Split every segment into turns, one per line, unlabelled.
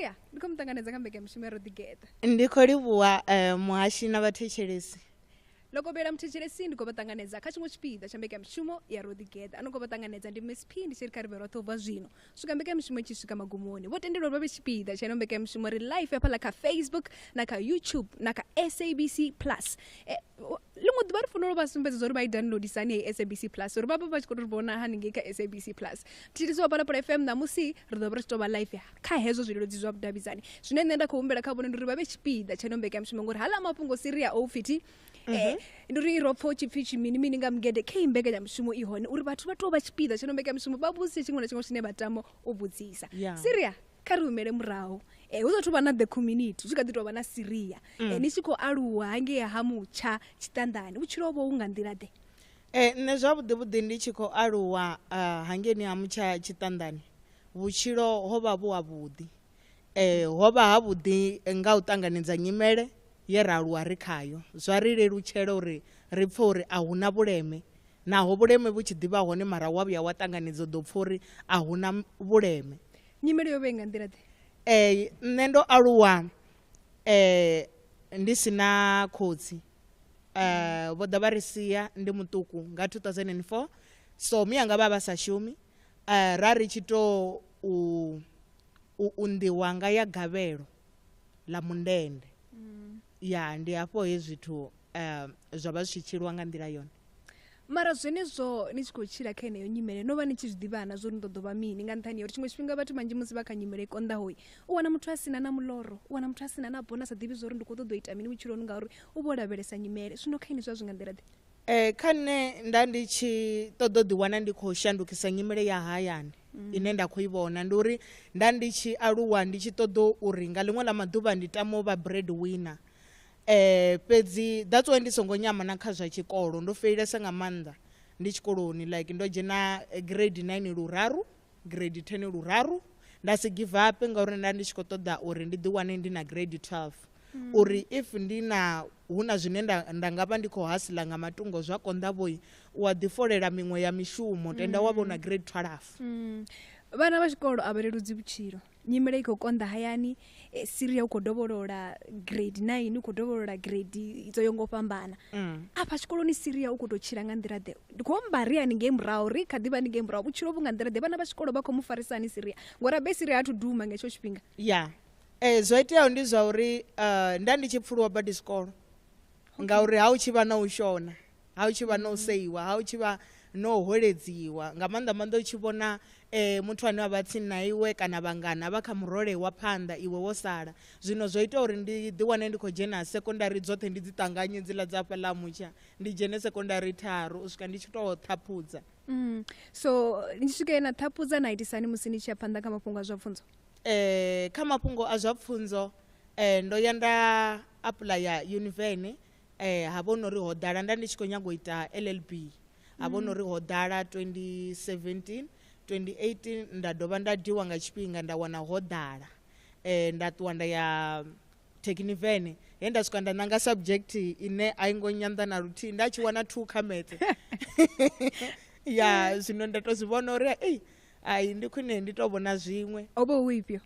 ya ndi khou mu ṱanganedza kha mbekanyamushumo ya ro ḓigeḓa ndi khou livhuwa
um muhashi na vhathetshelesi lokobela
muthetshelesi ndi khou vha ṱanganedza kha tshiṅwe tshipiḓa tsha mbekanyamushumo ya ro ḓigeḓa ano khou vha ṱanganedza ndi msp ndi tshi ri kha ri vhe roṱhe u bva zwino swika mbekanyamushumo tshi swika magumoni vho tendelwa vha vhe tshipiḓa tsha ino mbekanyamushumo ri life hafhaḽa kha facebook na kha youtube na kha sabc plus e, ḽiṅwe ḓuvha ri fanela uri vha sumbedze uri vha i downloadisa hani heyi sabc plus uri vha vha vha tshi khou tou ri vhona haningei kha sabc plus thithiso wa phalaphala fm ṋamusi ri ḓo vha ri tshi tou vha live kha hezwo zwileludzi zwa vhudavhidzani zwine nṋe nda khou humbela kha vhone ndi uri vha vhe tshipiḓa tsha ino mbekanyamushumo ngori hala mafhungo siri a oupfiti um eh, ndi uri ro pfa u tshi pfi tshimini mini nga mugede khe i mbekanyamushumo i hone uri vhathu vha tou vha tshipiḓa tsha ino mbekanyamushumo vha vhudzise tshiṅwe na tshiṅwe tshine vha tama u vhudzisa siria kha ri humele murahu eh, hu sathu vha na the community hu tshi kha ḓi tou vha na siria mm. eh, ni tshi khou aluwa hangei ha mutsha tshiṱanḓani vhutshilo vho hu nga nḓila ḓe eh, nṋe zwavhuḓi
vhuḓi ndi tshi khou aluwa uh, ah, hangeni ha mutsha tshiṱanḓani vhutshilo ho vha vhu havhuḓi eh, ho vha havhuḓi nga u ṱanganedza nyimele ye ra aluwa ri khayo zwa ri lelutshela uri ri pfhe uri a hu na vhuleme Naho vhuleme vhu tshi ḓi vha hone mara wa vhuya wa ṱanganedza u ḓo pfa uri a hu na vhuleme. Nyimele yo vha i nga
nḓila-ḓe? Ee, nṋe ndo
aluwa eh, ndi si na khotsi eh, vho ḓa vha ri sia ndi muṱuku nga 2004 so miyanga vha vha sa shumi eh, ra ri tshi tou u, u unḓiwa nga ya gavhelo ḽa mundende ya ndi hafho he zwithu eh, zwa vha zwi tshi tshilwa nga nḓila yone mara
zwenezwo ni tshi khou tshila kha yeneyo nyimele no vha ni tshi zwi ḓivhana zwo ni ḓo ḓo vha mini nga nṱhani ya uri tshiṅwe tshifhinga vhathu manzhi musi vha kha nyimele i konḓahoi u wana muthu a sina na muloro u wana muthu a sina na bona sa ḓivhi zwa uri ndi khou ṱoḓa u ita mini vhutshiloni ngauri u vho lavhelesa nyimele zwino kha ini zwa zwi nga nḓila ḓe um kha nṋe nda
ndi tshi ṱoḓa u ḓiwana ndi khou shandukisa nyimele ya hayani mm. ine nda khou i vhona ndi uri nda ndi tshi aluwa ndi tshi ṱoḓa uri nga ḽiṅwe ḽa maḓuvha ndi tama u vha bread winner Eh, fhedzi that's why ndi songo nyama na kha zwa tshikolo ndo feilesa nga maanḓa ndi tshikoloni like ndo dzhena eh, grade 9 luraru grade 10 luraru nda si give up ngauri nda ndi tshi khou ṱoḓa uri ndi ḓi wane ndi na grade 12 mm. uri if ndi na hu na zwine nda, nda nga vha ndi khou hasila nga matungo zwa konḓa vhoi u a ḓifolela miṅwe ya mishumo tenda mm. wa vhona grade 12 mm. vhana vha
tshikolo a vha leludzi vhutshilo nyimele i khou konḓa hayani eh, siria u khou dovholola grade nine u khou dovholola grade dzo yo ngo fhambana Mm. afha tshikoloni siria u khou tou tshila nga nḓila ḓe ndi khou amba ri haningei murahu ri kha ḓi vha haningei murahu vhutshilo vhu nga nḓila ḓe vhana vha tshikolo vha khou mu farisa hani siria ngori abe siria athu duma nga hetsho tshifhinga ya eh, zwo
iteaho ndi zwa uri uh, nda ndi tshi pfuluwa badi zwikolo ngauri ha u tshi vha na u shona ha u tshi vha no seiwa ha u tshi vha no holedziwa nga maanḓa maanḓa u tshi vhona um muthu ane a vha tsini na iwe kana vhangana vha kha murole wa phanḓa iwe wo sala zwino zwo ita uri ndi ḓiwane ndi khou dzhena sekondari dzoṱhe ndi dzi ṱanganye dziḽa dza hafha ḽa mutsha ndi dzhene sekondari tharu u swika ndi tshi tou ṱhaphudza mm. so
ni swike na ṱhaphudza na itisani musi ni tshi ya phanḓa kha mafhungo a zwa pfunzo um kha
mafhungo a zwa pfunzo um ndo ya nda apulaya univene Eh, ha vho nori ho ḓala nda ndi tshi khou nyaga u ita llb ha vho nori ho ḓala 2017 2018 nda dovha nda diwa nga tshifhinga nda wana ho ḓala eh, nda ṱuwa nda ya thekhinivene he nda swika nda nanga subject ine a i ngo nyanḓa na luthihi nda tshi wana two kha metse ya zwino nda to zwi vhona uri ei ai ndi khwine ndi to vhona zwiṅwe o vha hu ifhio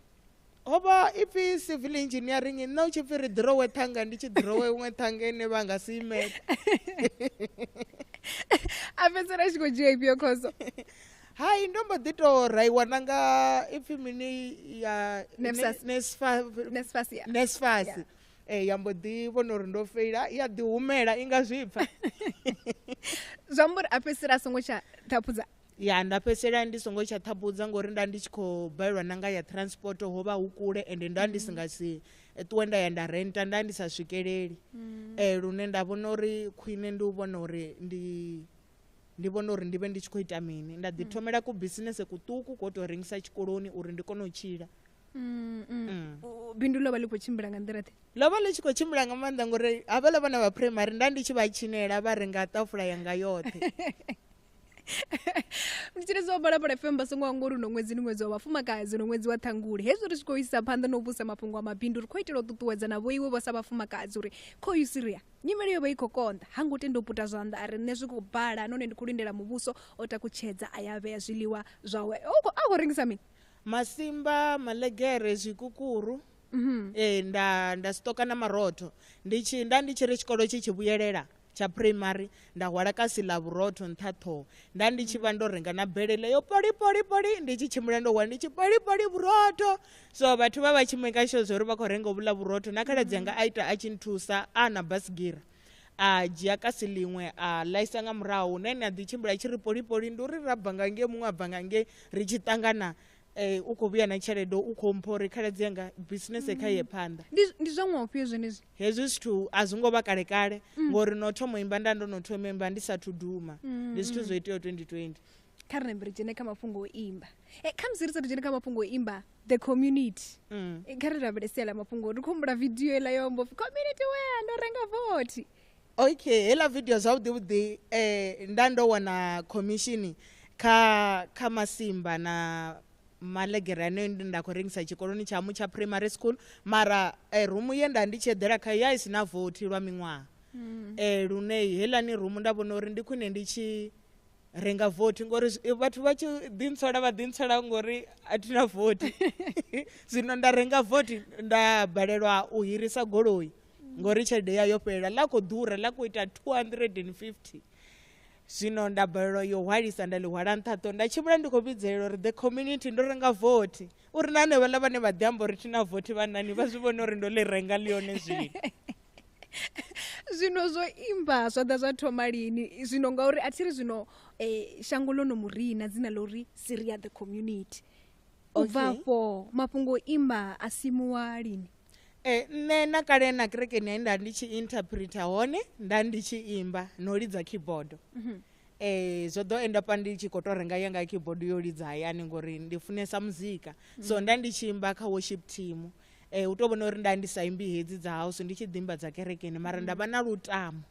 ho vha
ipfi civil engineering nṋe u tshi pfi ri ḓirowe ṱhanga ndi tshi ḓirowe iṅwe ṱhanga ine vha nga si imele
a fhedzisela tshi khou dzhia ifhio khoso hai ndo
mbo ḓi tou raiwa na nga ipfi mini ya nesfasi e eh, ya mbo ḓi vhona uri ndo feila ya ḓi humela i nga zwipfa
zwi amba uri a fhedzisela a songo tsha ṱhaphudza ya nda fhedzisela
ndi songo tsha ṱhaphudza ngori nda ndi tshi khou balelwa na nga ya transport ho vha hu kule ende nda ndi si nga si eh, ṱuwe nda ya nda renta nda ndi sa swikeleli mm. eh, lune nda vhona uri khwine ndi u vhona uri ndi ndi vhona uri ndi vhe ndi tshi khou ita mini nda ḓi mm. thomela ku bisinese kuṱuku ko tou rengisa tshikoloni uri ndi kone u tshila mm, mm.
bindu ḽo vha ḽi khou tshimbila nga nḓila ḓe ḽo vha ḽi tshi khou tshimbila
nga maanḓa ngori havhaḽa vhana vha primary nda ndi tshi vha tshinela vha renga ṱafula yanga yoṱhe
ndi tshiri zwa balapala fm vha songo anga uri uno ṅwedzi ndi ṅwedzi wa vhafumakadzi uno ṅwedzi wa ṱhangule hezwi ri tshi khou isa phanḓa na u vhusa mafhungo a mabindu ri khou itela u ṱuṱuwedza na vho iwe vho sa vhafumakadzi uri kho yu siria nyimele yo vha i khou konḓa ha ngo tenda u puta zwanḓa a ri nṋe zwi khou bala nahone ndi khou lindela muvhuso o takutshedza a ya vhea zwiḽiwa zwawe a khou
rengisa
mini masimba malegere
zwikukuru
mm -hmm. e, nda
nda stoka na marotho ndi tshi nda ndi tshi ri tshikolo tshi tshi vhuyelela tsha phuraimari nda hwala kasi ḽa vhurotho nṱha ṱhoho nda ndi tshi vha ndo renga na belele yo polipolipoli ndi tshi tshimbila ndo hwala ndi tshi polipoli vhurotho so vhathu vha vha tshi make sure zwa uri vha khou renga vhula vhurotho na khaladzi yanga a ita a tshi nthusa a na basigira a dzhia kasi ḽiṅwe a ḽaisa nga murahu hune ni a ḓi tshimbila tshi ri polipoli ndi uri ra bva nga ngei muṅwe a bva nga ngei ri tshi ṱangana eh, u khou vhuya na tshelede u khou mpha uri khaladzi yanga business kha ye phanḓa Ndi- ndi zwa ṅwaha ufhio
zwenezwi hezwi zwithu a
zwi ngo vha kale kale ngori no thoma u imba nda ndo no thoma u imba ndi sathu duma ndi zwithu zwo iteaho 2020 kha ri nambe ri
dzhene kha mafhungo o imba e, kha musi ri sathu dzhene kha mafhungo o imba the community Mm. E, kha ri rabele sia ḽa mafhungo ri khou humbula vidio iḽa yo mbo pfi community wea ndo renga vothi okay heiḽa
vidio zwavhuḓi vhuḓi um nda ndo wana commission kha kha masimba na malegere ane nda khou rengisa tshikoloni tshamu tsha primary school mara eh, rumu ye nda ndi tshi eḓela khayo ya i si na vothi lwa miṅwaha mm. eh, lune helani rumu nda vhona uri ndi khwine ndi tshi renga vothi ngori eh, vhathu vha tshi ḓintsola vha ḓintsola ngori a thi na vothi zwino nda renga vothi nda balelwa u hirisa goloi ngori tshelede ya yo fhelela ḽa khou ḓura ḽa khou ita 250 zwino nda balelwa yo hwalisa nda ḽi hwala nṱhaṱho nda tshimbila ndi khou vhidzelela uri the community ndo renga vothi uri na hanevhaḽa vhane vha ḓi amba uri thi na vothi vhanani vha zwi vhone uri ndo ḽi renga ḽi yone zwino
zwino zwo imba zwa ḓa zwa thoma lini zwino ngauri a thi ri zwino um shango ḽo no mu rina dzina ḽa uri siria the community u bva afho mafhungo o imba a simuwa lini Eh, nṋe
na kale na kerekeni ya nda ndi tshi interpreter hone nda ndi tshi imba no lidza keyboard mhm. eh zwo ḓo enda pa ndi tshi kho to renga yanga keyboard yo lidza hayani ngori ndi funesa muzika so mhm. nda ndi tshi imba kha worship team eh u to vhona uri nda ndi sa imbi hedzi dza house ndi tshi ḓimba dza kerekeni mara nda vha na lutamo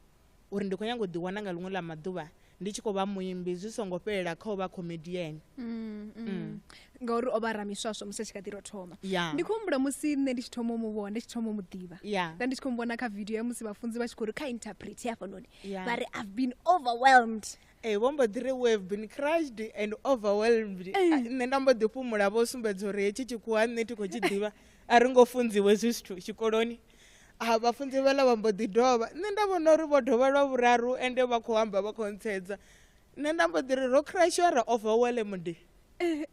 uri ndi khou nyanga u ḓiwana nga ḽiṅwe ḽa maḓuvha ndi tshi khou vha muimbi zwi songo fhelela kha u vha comedian mm, mm. mm.
ngauri o vha ramiswaswo musi a tshi kha ḓi ro thoma yeah. ndi khou humbula musi nṋe ndi tshi thoma u mu vhona ndi tshi thoma u mu ḓivha yeah. nda ndi tshi khou mu vhona kha video ya musi vhafunzi vha tshi khou ri kha interpret hafhanoni yeah. vha ri i've been overwhelmed ee vho mbo ḓi
ri we have been crushed and overwhelmed eh. ah, nṋe nda mbo ḓi fhumula vho sumbedza uri hetshi tshikhuwa nṋe thi khou tshi ḓivha a ri ngo funziwe zwi zwithu tshikoloni a vhafunzi vhala vha mbo ḓi dovha nṋe nda vhona uri vho dovha lwa vhuraru ende vha khou amba vha khou ntsedza nṋe nda mbo ḓi ri ro crashwa ra ova wele mude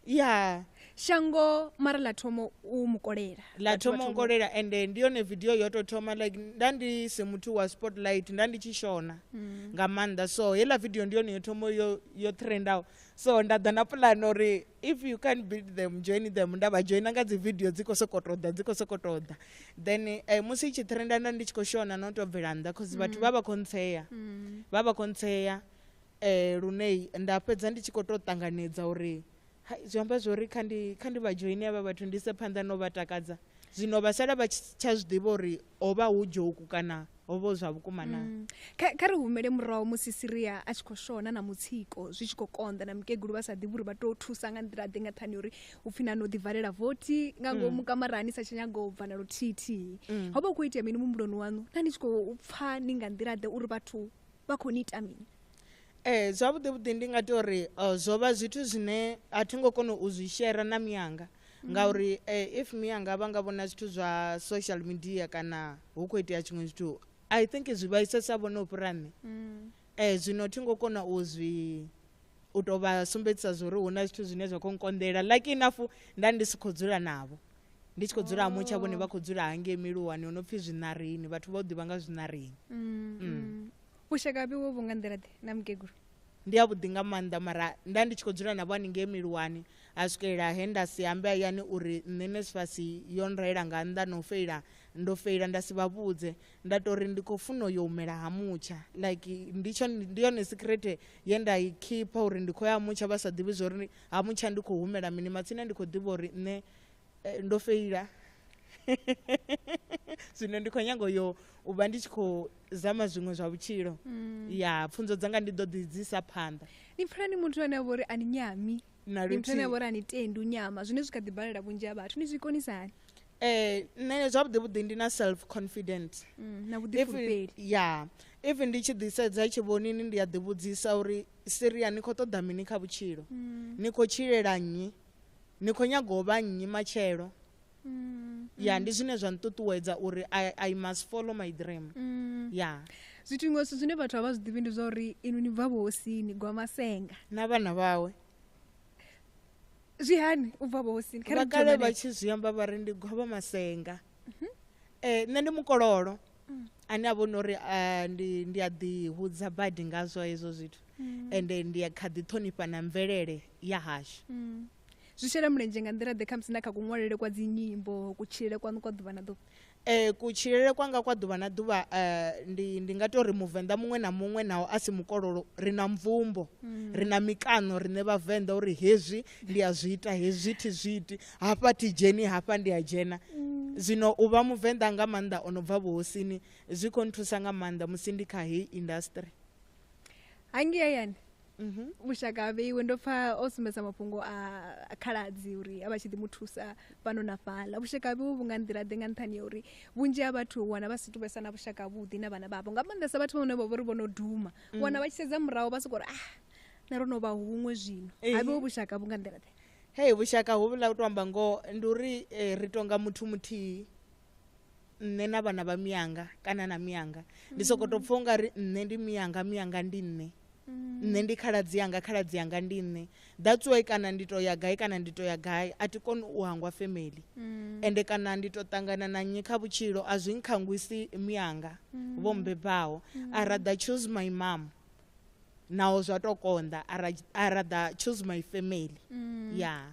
ya
shango mara ḽa thomo u mukolela ḽa thomo nkolela
ende ndi yone video yo tou thoma like nda ndi si muthu wa spotlight nda ndi tshi shona mm. nga maanḓa so heiḽa video ndi yone yo thomo yo, yo trendaho so nda ḓa na pulane uri if you can build them join them nda vha joina nga dzi video dzi khou sokou tou ḓa dzi khou sokou tou ḓa then eh, musi i tshi trenda nda ndi tshi khou shona no tou bvela nnḓa cause vhathu mm. vha vha khou ntshea mm. vha vha khou ntshea eh lunei nda fhedza ndi tshi khou tou ṱanganedza uri zwi amba zwori kha ndi kha ndi vha joine avha vhathu ndi se phanḓa no vha takadza zwino vha sala vha tsha zwi ḓivha uri ho vha hu joku kana ho vho zwa vhukuma na mm. kha ri
humele murahu musi siria a tshi khou shona na mutsiko zwi tshi khou konḓa na mukegulu vha sa ḓivhi uri vha tou thusa nga nḓila ḓe nga ṱhani uri u pfhi na no ḓivalela vothi nga ngomu mm. kamarani sa tshi nyaga u bva na luthithihi mm. ho vha u khou itea mini mumbuloni waṋu na ni tshi khou pfha ni nga nḓila ḓe uri vhathu vha khou ni ita mini ee zwavhuḓi
vhuḓi ndi nga tea uri eh, zwo vha zwithu zwine a thi ngo kona u zwi shera na miyanga mm. ngauri eh, if mi anga vha nga vhona zwithu zwa social media kana hu khou itea tshiṅwe zwithu i think zwi vhaisesa vhone u fhira nṋe mm. eh, zwino thi ngo kona u zwi u tou vha sumbedzisa zwa uri hu na zwithu zwine zwa khou nkonḓela like inafu nda ndi si khou dzula navho ndi tshi khou dzula ha mutsha vhone vha khou dzula hangei miluwani ho no pfhi zwinarini vhathu vha u ḓivha nga zwinarini mm, mm. mm.
u shaka vhiwo vhu nga nḓila ḓe na mukegulu ndi a vhuḓi nga
maanḓa mara nda ndi tshi khou dzula navho haningei miluwani a swikelela he nda si ambe hayani uri nṋe nesifasi yo nraela nga nnḓa na u feila ndo feila nda si vha vhudze nda to ri ndi khou funa yo humela ha mutsha like ndi tsho ndi yone secret ye nda i khipha uri ndi khou ya ha mutsha vha sa ḓivhi zwa uri ha mutsha ndi khou humela mini matsina ndi khou ḓivha uri nṋe eh, ndo feila zwino ndi khou nyanga yo u vha ndi tshi khou zama zwiṅwe zwa vhutshilo mm. ya pfunzo dzanga ndi ḓo ḓi dzi sa phanḓa ni pfela ni muthu
ane a vhori a ni nyami ni muthu ane a vhori a ni tendi u nyama zwine zwi kha ḓi balela vhunzhi ha vhathu ni zwi konisani eh nṋe
zwavhuḓi vhuḓi ndi na self confident mm, na vhuḓifulufheli
ya if
ndi tshi ḓisedza tshivhonini ndi a ḓivhudzisa uri siria ni khou ṱoḓa mini kha vhutshilo mm. ni khou tshilela nnyi ni khou nyaga u vha nnyi matshelo mm. ya ndi zwine zwa nṱuṱuwedza uri I, i must follow my dream mm. ya zwithu iṅwe zwithu
zwine vhathu a vha zwi ḓivhi ndi zwa uri inu ni bva vhohosini gwa masenga na vhana vhawe zwi hani u bva vhohosini vhakale vha tshi zwi
amba vha ri ndi gwavha masenga mm -hmm. eh, nṋe ndi mukololo mm. ane a vhona uri eh, ndi ndi a ḓihudza badi ngazwo hezwo zwithu mm. ende ndi a kha ḓi ṱhonifha na mvelele ya hashu mm. zwi shela
mulenzhe nga nḓila ḓe khamusi na kha kuṅwalele kwa dzi nyimbo kutshilele kwaṋu kwa ḓuvha na ḓuvha um kutshilele
kwanga kwa ḓuvha na ḓuvha um ndi ndi nga tou ri muvenḓa muṅwe na muṅwe naho a si mukololo ri na mvumbo mm. ri na mikano riṋe vhavenḓa uri hezwi ndi a zwi ita hezwi thi zwi iti hafha thi dzheni hafha ndi a dzhena mm. zwino u vha muvenḓa nga maanḓa o no bva vhuhosini zwi khou nthusa nga maanḓa musi ndi kha heyi industry
hangei hayani mhm. mushaka a vheiwe ndo pfa o sumbedza mafhungo a khaladzi uri a vha tshi ḓi mu thusa fhano na fhaḽa vhushaka a vheiwe vhu nga nḓila ḓe nga nṱhani ya uri vhunzhi ha vhathu wana vha si tu vhesa na vhushaka vhuḓi na vhana vhavho nga maanḓesa vhathu vhane vha vho ri vho no duma mm. wana vha tshi sedza muraho vha sokou ri ah na ro no vha huṅwe zwino a vheiwe vhushaka vhu nga nḓila ḓe hei vhushaka
hovhuḽa u to amba ngoho ndi uri eh, ri tonga muthu muthihi nṋe na vhana vha miyanga kana na miyanga ndi soko to pfha ungari nṋe ndi miyanga miyanga ndi nṋe mm. nṋe ndi khaladzi yanga khaladzi yanga ndi nṋe that's why kana ndi to ya gai kana ndi to ya gai a ti koni u hangwa family mm. ende kana ndi to ṱangana na nnyi kha vhutshilo a zwi nkhangwisi miyanga mm. vho mbebaho i rather choose my mom naho zwa to konḓa i rather choose my family ya yeah.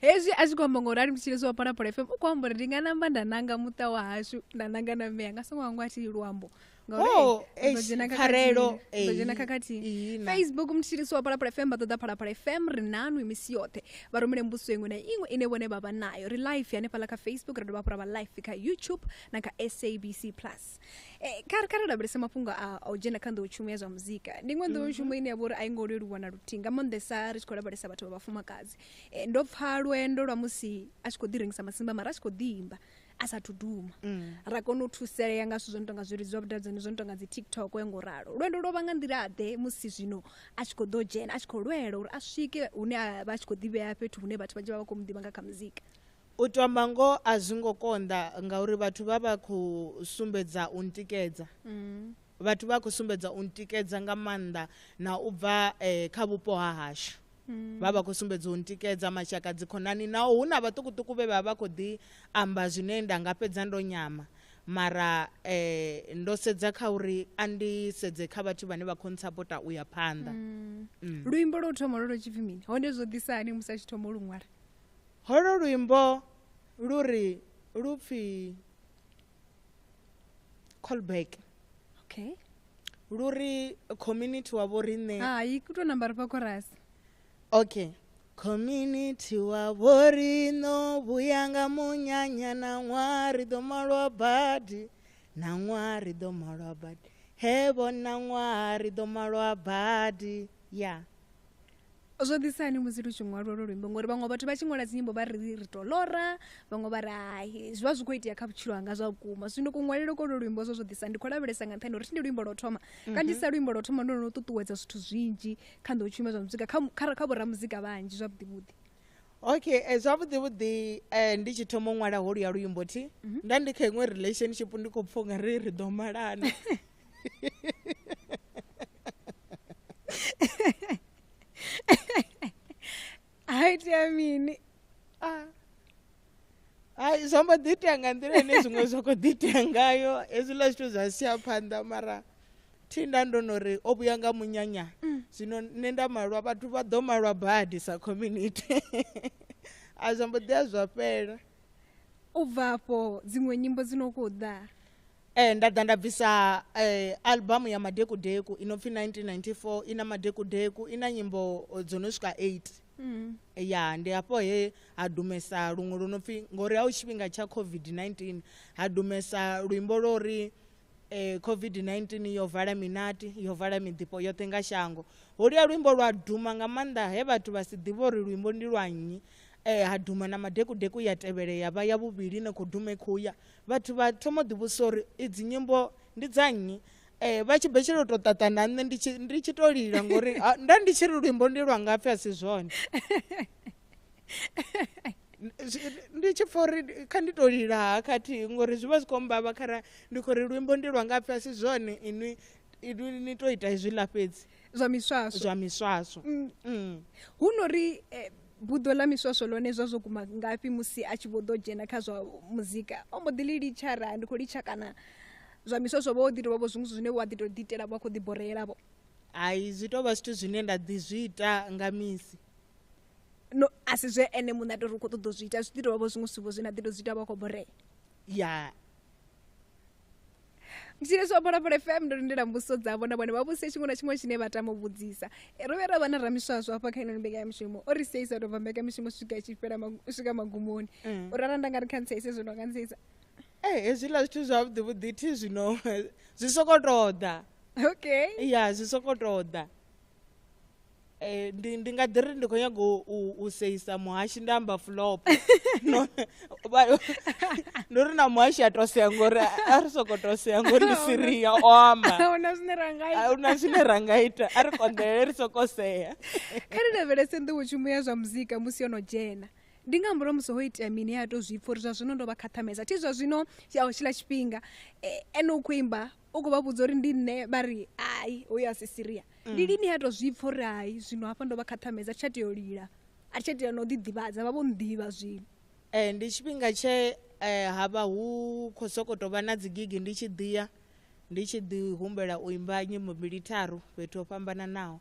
hezwi
a tshi khou amba ngori a limtshile zwo vhapala phala fm u khou amba uri ndi nga namba nda nanga muṱa wa hashu nda nanga na mme anga songo hangwa thi luambo oh,
dzhena khakhathini
facebook mutshilisi wa phalaphala fm vha ṱoḓa phalaphala fm ri nanu misi yoṱhe vha rumele mbuso iṅwe na iṅwe ine vhone vha vha nayo ri life hanefhaḽa kha facebook ra dovha hafhu ra vha life kha youtube na kha sabc plus eh, kha ri lavhelese mafhungo a u dzhena kha nḓowetshumo ya zwa muzika ndi iṅwe nḓowetshumo mhm. ine ya vha uri a i ngo leluwa na luthihi nga maanḓesa ri tshi khou lavhelesa vhathu vha vhafumakadzi Eh, ndo pfa lwendo lwa musi a tshi khou ḓi rengisa masimba mara a tshi khou ḓi imba a sathu duma mm. ra kona u thusalea nga zwithu zwo no tonga zwilidzi zwa vhudavhidzani zwo no tonga dzi tiktok ya ngo ralo lwendo lwo vha nga nḓila ḓe musi zwino a tshi khou ḓo dzhena a tshi khou lwela uri a swike hune a vha a tshi khou ḓivhea fhethu hune vhathu vhanzhi vha vha khou mu ḓivha nga kha muzika u tomba ngo
a zwi ngo konḓa ngauri vhathu vha vha khou sumbedza u ntikedza mm. vhathu vha khou sumbedza u ntikedza nga maanḓa na u bva eh, kha vhupo ha hashu mm. vha vha khou sumbedza u ntikedza mashaka dzikhonani naho hu na vhaṱukuṱuku vhe vha vha khou ḓi amba zwine nda nga fhedza ndo nyama mara eh, ndo sedza kha uri a ndi sedze kha vhathu vhane vha khou ntsapota u ya phanḓa mm. mm. luimbo
lwo thoma lwo lwo tshipfi mini hone zwo ḓisa hani musi a tshi thoma luṅwala holo
luimbo lu ri lu pfhi call back okay
lu ri
community wa vho riṋe hai ku tou namba ri fha
khorasi okay
community wa vho riṋo vhuya nga munyanya na ṅwaha ri ḓo malwa badi na ṅwaha ri ḓo malwa badi he vhona ṅwaha ri ḓo malwa badi ya yeah.
zwo ḓisa hani musi lu tshi ṅwalwa lwo luimbo ngori vhaṅwe vhathu vha tshi ṅwala dzinyimbo vha ri ri to lora vhaṅwe vha ri hai zwi vha zwi khou itea kha vhutshilo hanga zwa vhukuma zwino kuṅwalelo ko lwo luimbo zwo zwo ḓisa ndi khou lavhelesa nga nṱhani uri thi ndi luimbo lwo thoma mhm. kanzhisa luimbo lwo thoma ndo no ṱuṱuwedza zwithu zwinzhi kha nḓo tshuma zwa muzika kha vhoramuzika vhanzhi zwavhuḓivhuḓi okay
eh, zwavhuḓi vhuḓi eh, ndi tshi thoma u ṅwala holu ya luimbo thi mhm. nda ndi kha iṅwe relationship ndi khou pfha unga ri ri ḓo malana
hayi tea mini ah.
hayi zwo mbo ḓi itea nga nḓila ine zwiṅwe zwa khou ḓi itea ngayo hezwiḽa zwithu zwa sia phanḓa mara thinda ndo no ri o vhuya nga munyanya mm. zwino nṋe nda malwa vhathu vha ḓo malwa badi sa community a zwo mbo ḓi a zwa fhela u
bva afho dziṅwe nyimbo dzi no khou ḓa Ee, nda ḓa
nda bvisa eh, albamu ya madekudeku i no pfi 1994 i na madekudeku i na nyimbo eh, dzo no swika 8 Mm. ya ndi hafho he ha dumesa luṅwe lu no pfi ngori ha u tshifhinga tsha covid-19 ha dumesa luimbo lwo ri eh, covid-19 yo vala minati yo vala miḓifho yoṱhe nga shango holuya luimbo lwa duma nga maanḓa he vhathu vha si ḓivhe uri luimbo ndi lwa nnyi eh, ha duma na madekudeku ya tevhele ya vha ya vhuvhili ine khou duma i khou ya vhathu vha thoma u ḓivhusa uri idzi nyimbo ndi dza nnyi um vha tshi betshela u tou ṱaṱa na nṋe ndi tshi tou lila ngori nda ndi tshi ri luimbo ndi lwa ngapfhi a si zwone ndi tshi pfa uri kha ndi tou lila ha khathihi ngori zwi vha zwi khou mbavha khara ndi khou ri luimbo ndi lwa ngapfhi a si zwone inwi ni tou ita hezwiḽa fhedzi zwa miswaswo zwa
miswaswo
mm, mm.
hu no ri eh, buḓo ḽa miswaswo lone zwa zwo guma ngafhi musi a tshi vho ḓo dzhena kha zwa muzika o mbo ḓi ḽi litsha ra ndi khou litsha kana zwa miswaswo vho ḓi tovha vho zwiṅwe zwine wa ḓi to ḓi itela vha khou ḓi boreela vho hai zwi
tovha zwithu zwine nda ḓi zwi ita nga misi
no a si zwe ene muṋe a tori u khou ṱoḓa u zwi ita zwi ḓi tovha vho zwiṅwe zwithu vho zwine a ḓi to zwi ita vha khou borea ya tshine tsha phala phala fm ndo lindela mbuso dzavho na vhone vha vhuse tshiṅwe na tshiṅwe tshine vha tama u vhudzisa ro vhe ra vha na ramiswaswo hafha kha inoni mbekanyamishumo o ri sia isa tou bva mbekanyamishumo swika itshi fhela swika magumoni u rara nda nga ri khantsa ise zwino nga ntsisa ee hezwiḽa
zwithu zwavhuḓi vhuḓi thi zwino zwi soko tou ḓa okay ya
zwi soko
tou ḓa Eh, ndi ndi nga ḓi ri ndi khou nyanga u seisa muhashi nda amba flop ndo ri na muhashi a tosea ngori a ri soko tosea ngori ndi siria o amba ahuna zwine ra nga ita
ahuna zwine
ra nga ita a ri konḓelele ri soko sea kha ri lavhelese
nḓowetshumo ya zwa muzika musi yo no dzhena ndi nga murahu musi ho itea mini ya to zwi pfha uri zwa zwino ndo vha khathamesa thi zwa zwino tshiḽa tshifhinga e, ene u khou imba u khou vha vhudza uri ndi nṋe vha ri hai hoyo a si siria ndi mm. lini ha tou zwi pfha uri hai zwino hafha ndo vha khathamedza a thi tsha tea u lila a thi tsha tea na u ḓiḓivhadza vha vho nḓivha zwino um ndi tshifhinga
tshe um ha vha hu khou sokou tou vha na dzi gigi ndi tshi ḓiya ndi tshi ḓi humbela u imba nyimbo mbili tharu fhethu ho fhambananaho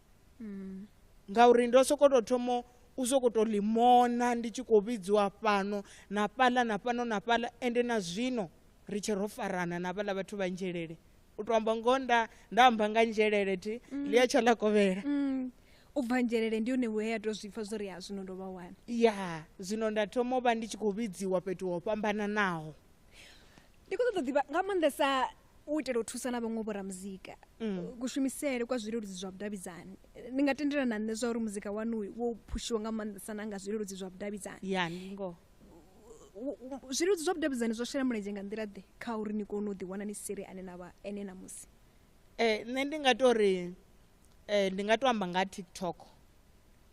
mm. ngauri ndo soko to thomo u soko to limona ndi tshi khou vhidziwa fhano na fhaḽa na fhano na fhaḽa ende na zwino ri tshe ro farana na vhaḽa vhathu vha nzhelele u to amba ngoho nda nda amba nga nzhelele thi mm. ḽi a tsha ḽa kovhela mm. u bva
nzhelele ndi hone we ya to zwi pfa zwori ha zwino ndo vha wana ya zwino
nda thoma u vha ndi tshi khou vhidziwa fhethu ho fhambananaho
ndi khou ṱoḓa ḓivha nga maanḓesa u itela u thusa na vhaṅwe vhoramuzika mm. kushumisele kwa zwileludzi zwa vhudavhidzani ni nga tendela na nṋe zwa uri muzika wanu wo phushiwa nga maanḓesa na nga zwileludzi zwa vhudavhidzani ya ndi
ngoho
zwileludzi zwa vhudavhidzani zwo shela mulenzhe nga nḓila ḓe kha uri ni kone u ḓiwana ni siri ane na vha ene na musi eh, nṋe ndi
nga to ri um eh, ndi nga to amba nga tiktok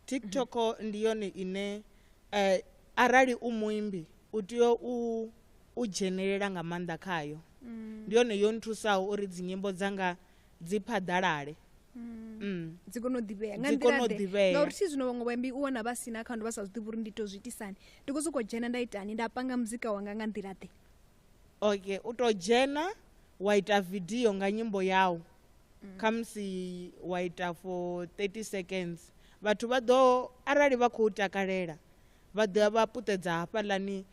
tiktok mm -hmm. ndi yone ine um arali u muimbi u tea u u dzhenelela nga maanḓa khayo mm. ndi yone yo nthusaho uri dzinyimbo dzanga dzi phaḓalale mm. mm.
dzi kone u ḓivhea nga nḓilaḓe ngauri thi zwino vhaṅwe vhaimbi u wana vha si na akhaunthu vha sa zwiḓivhi uri ndi to zwi itisani ndi khou sokou dzhena nda itani nda panga muzika wanga nga nḓilaḓe okay
u tou dzhena wa ita vidio nga nyimbo yau mm. khamusi wa ita for 30 seconds vhathu vha ḓo arali vha khou takalela Vha ḓo ya vha puṱedza hafhaḽani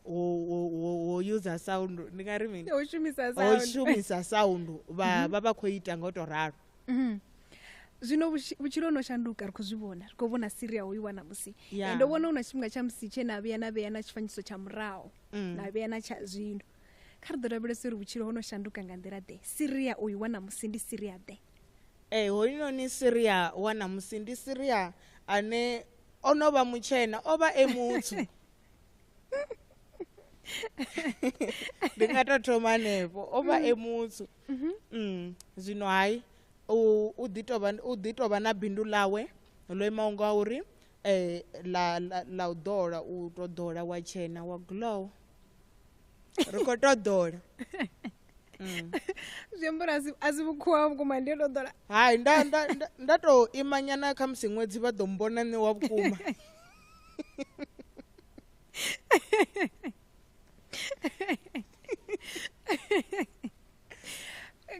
ho ho ho ho user sound ndi nga ri mini? Ho shumisa ho sound.
shumisa
sound vha Mhm. vha vha khou ita nga u tou ralo. Mhm.
Zwino vhutshi- vhutshilo ho no shanduka ri khou zwi vhona ri khou vhona Syria hoyu wa ṋamusi Ya. and ndo vhona hu na tshifhinga tsha musi tshe na vhuya na vhea na tshifanyiso tsha muraho Mm. na vhea na tsha zwino kha ri ḓo lavhelesa uri vhutshilo ho no shanduka nga nḓila ḓe Syria uyu wa ṋamusi ndi Syria ḓe Ee, hoyunoni
Syria wa ṋamusi ndi Syria ane o no vha mutshena o vha e mutsu ndi nga to thoma hanefho o vha e mutsu mm-hmm. mm, zwino hai u ḓi tovha u ḓi tovha na bindu ḽawe ḽo imaho nga uri eh la la u ḓola u to ḓola wa tshena wa glow ri kho to ḓola
mm. zwi amba uri a si vhukhuwa vhukuma ndi ndo ḓola hai nda nda
nda to imanyana kha musi ṅwedzi vha ḓo mbona nṋe wa vhukuma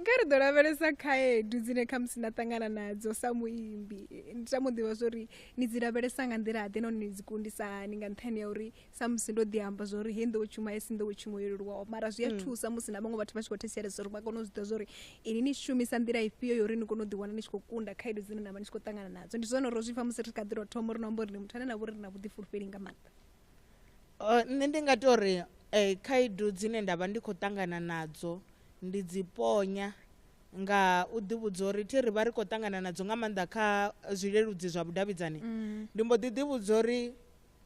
kha ri ḓo lavhelesa khaedu dzine khamusi na ṱangana nadzo sa muimbi ndi ta mu ḓivha zwo ri ni dzi lavhelesa nga nḓila ḓe nahone ni dzi kundisa hani nga nṱhani ya uri samusi ndo ḓi amba zwa uri hei nḓowetshumo a si nḓowetshumo yo leluwaho mara zwi a hmm. thusa musi na vhaṅwe vhathu vha tshi khou thetshelesa uri vha kone u zwi ḓa zwa uri ini ni shumisa nḓila ifhio yo uri ni kone u ḓiwana ni tshi khou kunda khaedu dzine na vha ni tshi khou ṱangana nadzo ndi zwone ro zwi pfa musi ri kha ḓi ro thoma uri no amba uri ni muthu ane na vha uri ri na vhuḓifulufheli nga maanḓa uh,
nṋe ndi nga to ri eh,
khaedu
dzine nda vha ndi khou ṱangana nadzo ndi dzi ponya nga u ḓivhudza uri thi ri vha ri khou ṱangana nadzo nga maanḓa kha zwileludzi zwa vhudavhidzani mm. ndi mbo ḓi ḓivhudza uri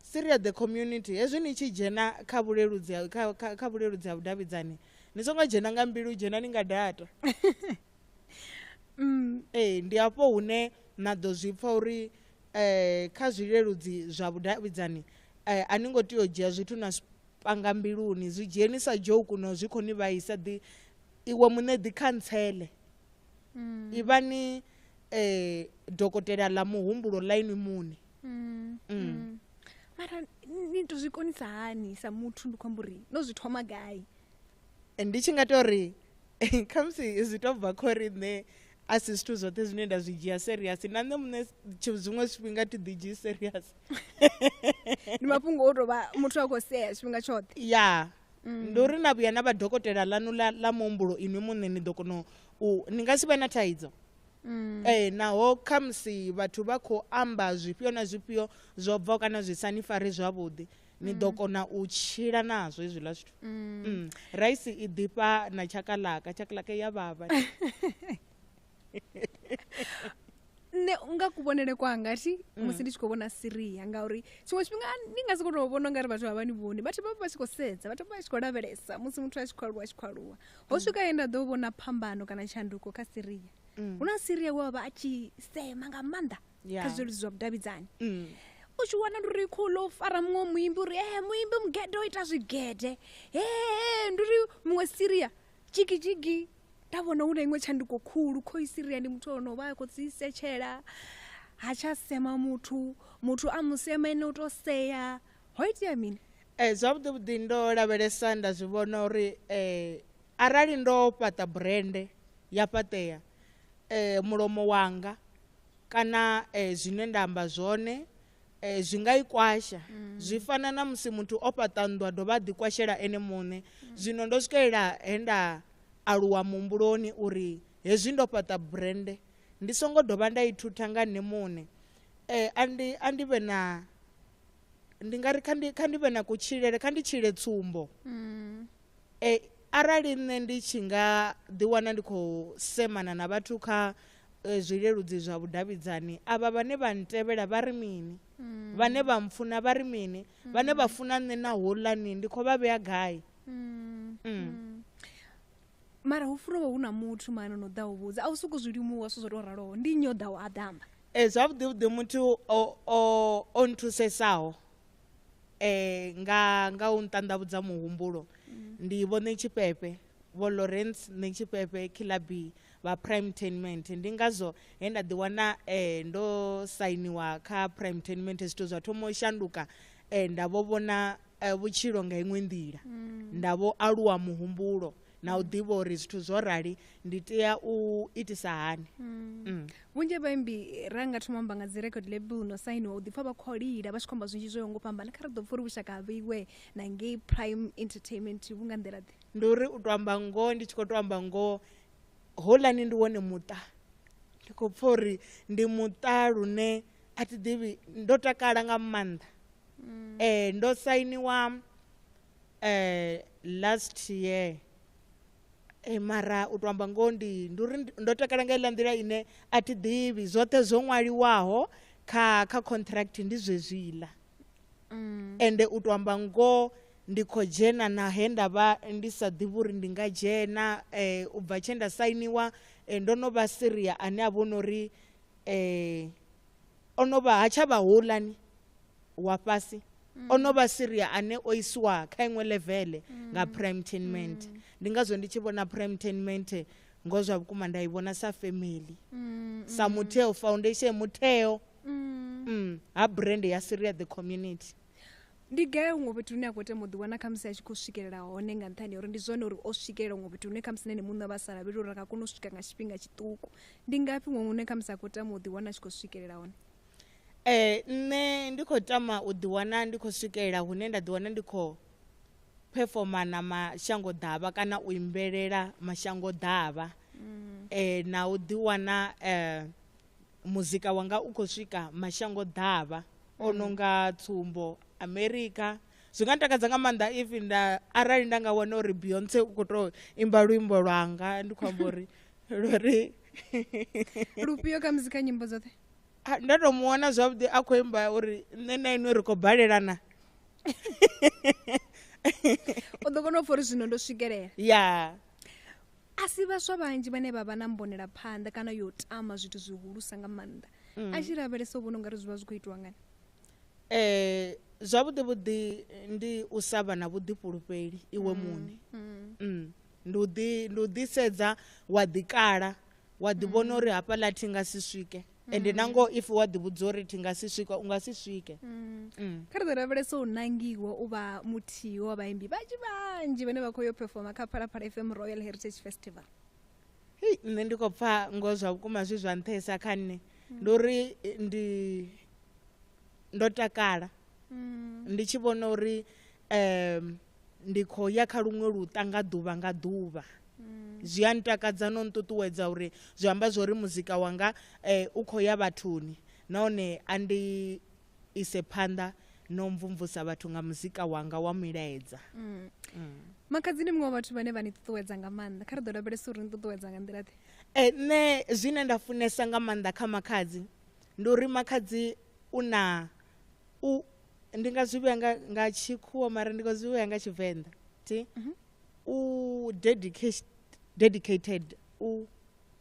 Syria the community hezwi ni tshi dzhena kha vhuleludzi kha, kha, kha vhuleludzi ha vhudavhidzani ni songo dzhena nga mbilu dzhena ni nga data mm. ee ndi hafho hune na ḓo zwi pfa uri um kha zwileludzi zwa vhudavhidzani um a ni ngo tea u dzhia zwithu na panga mbiluni zwi dzhieni sa joku no zwi khou ni vhaisa ḓi iwe muṋe ḓi khantsele mm. ivhani um dokotela ḽa muhumbulo ḽa inwi muṋe Mm. Mm. Mm.
mara ni ni to zwi konisa hani sa muthu ndi khou amba uri no zwi thoma gai and ndi tshi
nga tou ri khamusi zwi tou bva khori nṋe a si zwithu zwoṱhe zwine nda zwi dzhia serious na nṋe muṋe tshi- zwiṅwe zwifhinga thi ḓi dzhii serious
ndi mafhungo o tou vha muthu a khou sea tshifhinga tshoṱhe ya
Mm. ndi uri na vhuya na vha dokotela ḽanu ḽa ḽa muhumbulo inwi muṋe ni ḓo kona u ni nga si vhe na thaidzo Mm. ee naho khamusi vhathu vha khou amba zwifhio na zwifhio zwo bvaho kana zwi sa ni fari zwavhuḓi ni ḓo mm. kona u tshila nazwo hezwiḽa zwithu mm. mm. raisi i ḓifha na tshakalaka tshakalaka ya vhavha nṋe
nga kuvhonele kwanga thi mm. musi ndi tshi khou vhona siria ngauri tshiṅwe tshifhinga ni nga si kho tou vhona ungari vhathu vha vha ni vhoni vhathu vha vha tshi khou sedza vhathu vha vha tshi khou lavhelesa musi muthu a tshi khou aluwa a tshi khou aluwa ho mm. swika ye nda ḓo vhona phambano kana tshanduko kha siria mm. hu na siria we wavha a tshi sema nga maanḓa kha zwiludzi zwa vhudavhidzani mm. u tshi wana ndi uri khouḽo u fara muṅwe muimbi uri e muimbi mugede o ita zwigede he ndi uri muṅwe siria jigijigi nda vhona hu na iṅwe tshanduko khulu khoi siria ndi muthu ono vha a khou dzi setshela ha tsha sema muthu muthu a musema ene u to sea ho itea mini Eh, zwavhuḓi vhuḓi
ndo lavhelesa nda zwi vhona uri eh, arali ndo fhaṱa burende ya fhaṱea eh, mulomo wanga kana eh, zwine nda amba zwone eh, zwi nga i kwasha mm. zwi fana na musi muthu o fhaṱa nnḓu a dovha a ḓikwashela ene muṋe mm. zwino ndo swikelela he nda aluwa muhumbuloni uri hezwi ndo fhaṱa burende ndi songo dovha nda i thutha nga nṋe muṋe eh, andi, andi vhe na ndi nga ri kha ndi kha ndi vhe na kutshilele kha ndi tshile tsumbo mm. e, arali nṋe ndi tshi nga ḓiwana ndi khou semana na vhathu kha e, zwileludzi zwa vhudavhidzani avha vhane vha ntevhela vha ri mini mm. vhane vha mpfuna vha ri mini mm. vhane vha funa nṋe na holani ndi khou vha vhea gai mm. Mm. mm.
mara hu funa hu na muthu mani no ḓa u vhudza a u soko zwi limuwa so zwo tou raloho ndi nnyi o ḓaho a ḓamba e zwavhuḓi vhuḓi muthu
o nthusesaho um nga nga u nṱanḓavhudza muhumbulo mm. ndi vho ṋe tshifhefe vho lawrence ṋe tshifhefe kilabi vha prime tenment ndi ngazwo he nda ḓiwana um ndo sainiwa kha prime tenment zwithu zwa thoma u shanduka um nda vho vhona eh, vhutshilo nga iṅwe nḓila mm. nda vho aluwa muhumbulo na u ḓivha uri zwithu zwo rali ndi tea u itisa hani mm. Mm. vhunzhi
vhaimbi ra nga thoma amba nga dzi record label no sainiwa u ḓipfa vha khou lila vha tshi khou amba zwinzhi zwo ngo fhambana kha ri ḓo pfa uri vhushaka ha vheiwe na ngei prime entertainment vhu nga nḓila ḓe ndi uri u to amba
ngoho ndi tshi khou to amba ngoho holani ndi wone muṱa ndi khou pfa uri ndi muṱa lune a thi ḓivhi ndo takala nga maanḓa mm. eh ndo sainiwa eh last year eh mara u to amba ngoho ndi ndi uri ndo takala nga iḽa nḓila ine a thi ḓivhi zwoṱhe zwo ṅwaliwaho kha kha contract ndi zwezwiḽa mm. ende u to amba ngoho ndi khou dzhena na he nda vha ndi sa ḓivhi uri ndi nga dzhena um u bva tshe nda sainiwa um ndo no vha siria ane a vho no uri O no vha, ha tsha vha houḽani wa fhasi, o no vha Siria ane o iswa kha iṅwe ḽeveḽe nga phuraimuthenimennde. Ndi ngazwo ndi tshi vhona phuraimuthenimennde ngoho zwa vhukuma nda i vhona sa family, sa mutheo, foundation, mutheo ha brand ya Siria The Community. ndi gai
huṅwe fhethu hune a khou tama u ḓiwana khamusi a tshi khou swikelela hone nga nṱhani uri ndi zwone uri o swikelela huṅwe fhethu hune khamusi na ene muṋe vha sa lavheli uri a nga kona u swika nga tshifhinga tshiṱuku ndi ngafhi huṅwe hune khamusi a khou tama u ḓiwana a tshi khou swikelela hone ee
nṋe ndi khou tama u ḓiwana ndi khou swikelela hune nda ḓiwana ndi khou phefoma na mashango ḓavha kana u imbelela mashango ḓavha um na u ḓiwana um Muzika wanga u khou swika mashango ḓavha o mm. no nga tsumbo America zwi nga ntakadza nga maanḓa if nda arali nda nga wana uri Beyonce u khou tou imba luimbo lwanga ndi khou amba uri luri
lufhio kha muzika nyimbo dzoṱhe nda tou mu
wana zwavhuḓi a khou imba uri nṋe na inwe ri khou balelana
u ḓo kona u pfha uri zwino ndo swikelela ya
a
si vhaswa vhanzhi vhane vha vha na mbonelaphanḓa kana yo tama zwithu zwihulusa nga maanḓa a tshi lavhelesa u vhona ungari zwi vha zwi khou itiwa ngani eh zwavhuḓi
vhuḓi ndi u sa vha na vhuḓifhulufheli iwe muṋe Mm. ndi u ḓi ndi u ḓisedza wa ḓikala wa ḓi vhona uri hafhaḽa thi nga si swike ende mm. nangoho if wa ḓivhudza uri thi nga si swika u nga si swike mm. mm. kha ri
ḓo lavhelesa u nangiwa u vha muthihi wa vhaimbi vhanzhi vhanzhi vhane vha khou yo performa kha phalaphala fm royal heritage festival hei
nṋe ndi khou pfa ngo zwa vhukuma zwi zwa nṱhesa kha nṋe ndi uri ndi ndo takala ndi tshi vhona uri um ndi khou ya kha luṅwe luṱa nga ḓuvha nga ḓuvha mm. zwi a ntakadza no nṱuṱuwedza uri zwi amba zwo ri muzika wanga um u khou ya vhathuni nahone a ndi ise phanḓa no mvumvusa vhathu nga muzika wanga wa milaedza mm. mm.
makhadzi ndi muṅwe wa vhathu vhane vha ni ṱuṱuwedza nga maanḓa kha ri ḓo lavhelesa uri ni ṱuṱuwedza nga nḓila ḓe e eh, nṋe
zwine nda funesa nga maanḓa kha makhadzi ndi uri makhadzi u na u ndi nga zwi vhuya nga, nga tshikhuwa mara ndi nga zwi vhuya nga tshivenḓa ti mm -hmm. u dedicated, dedicated u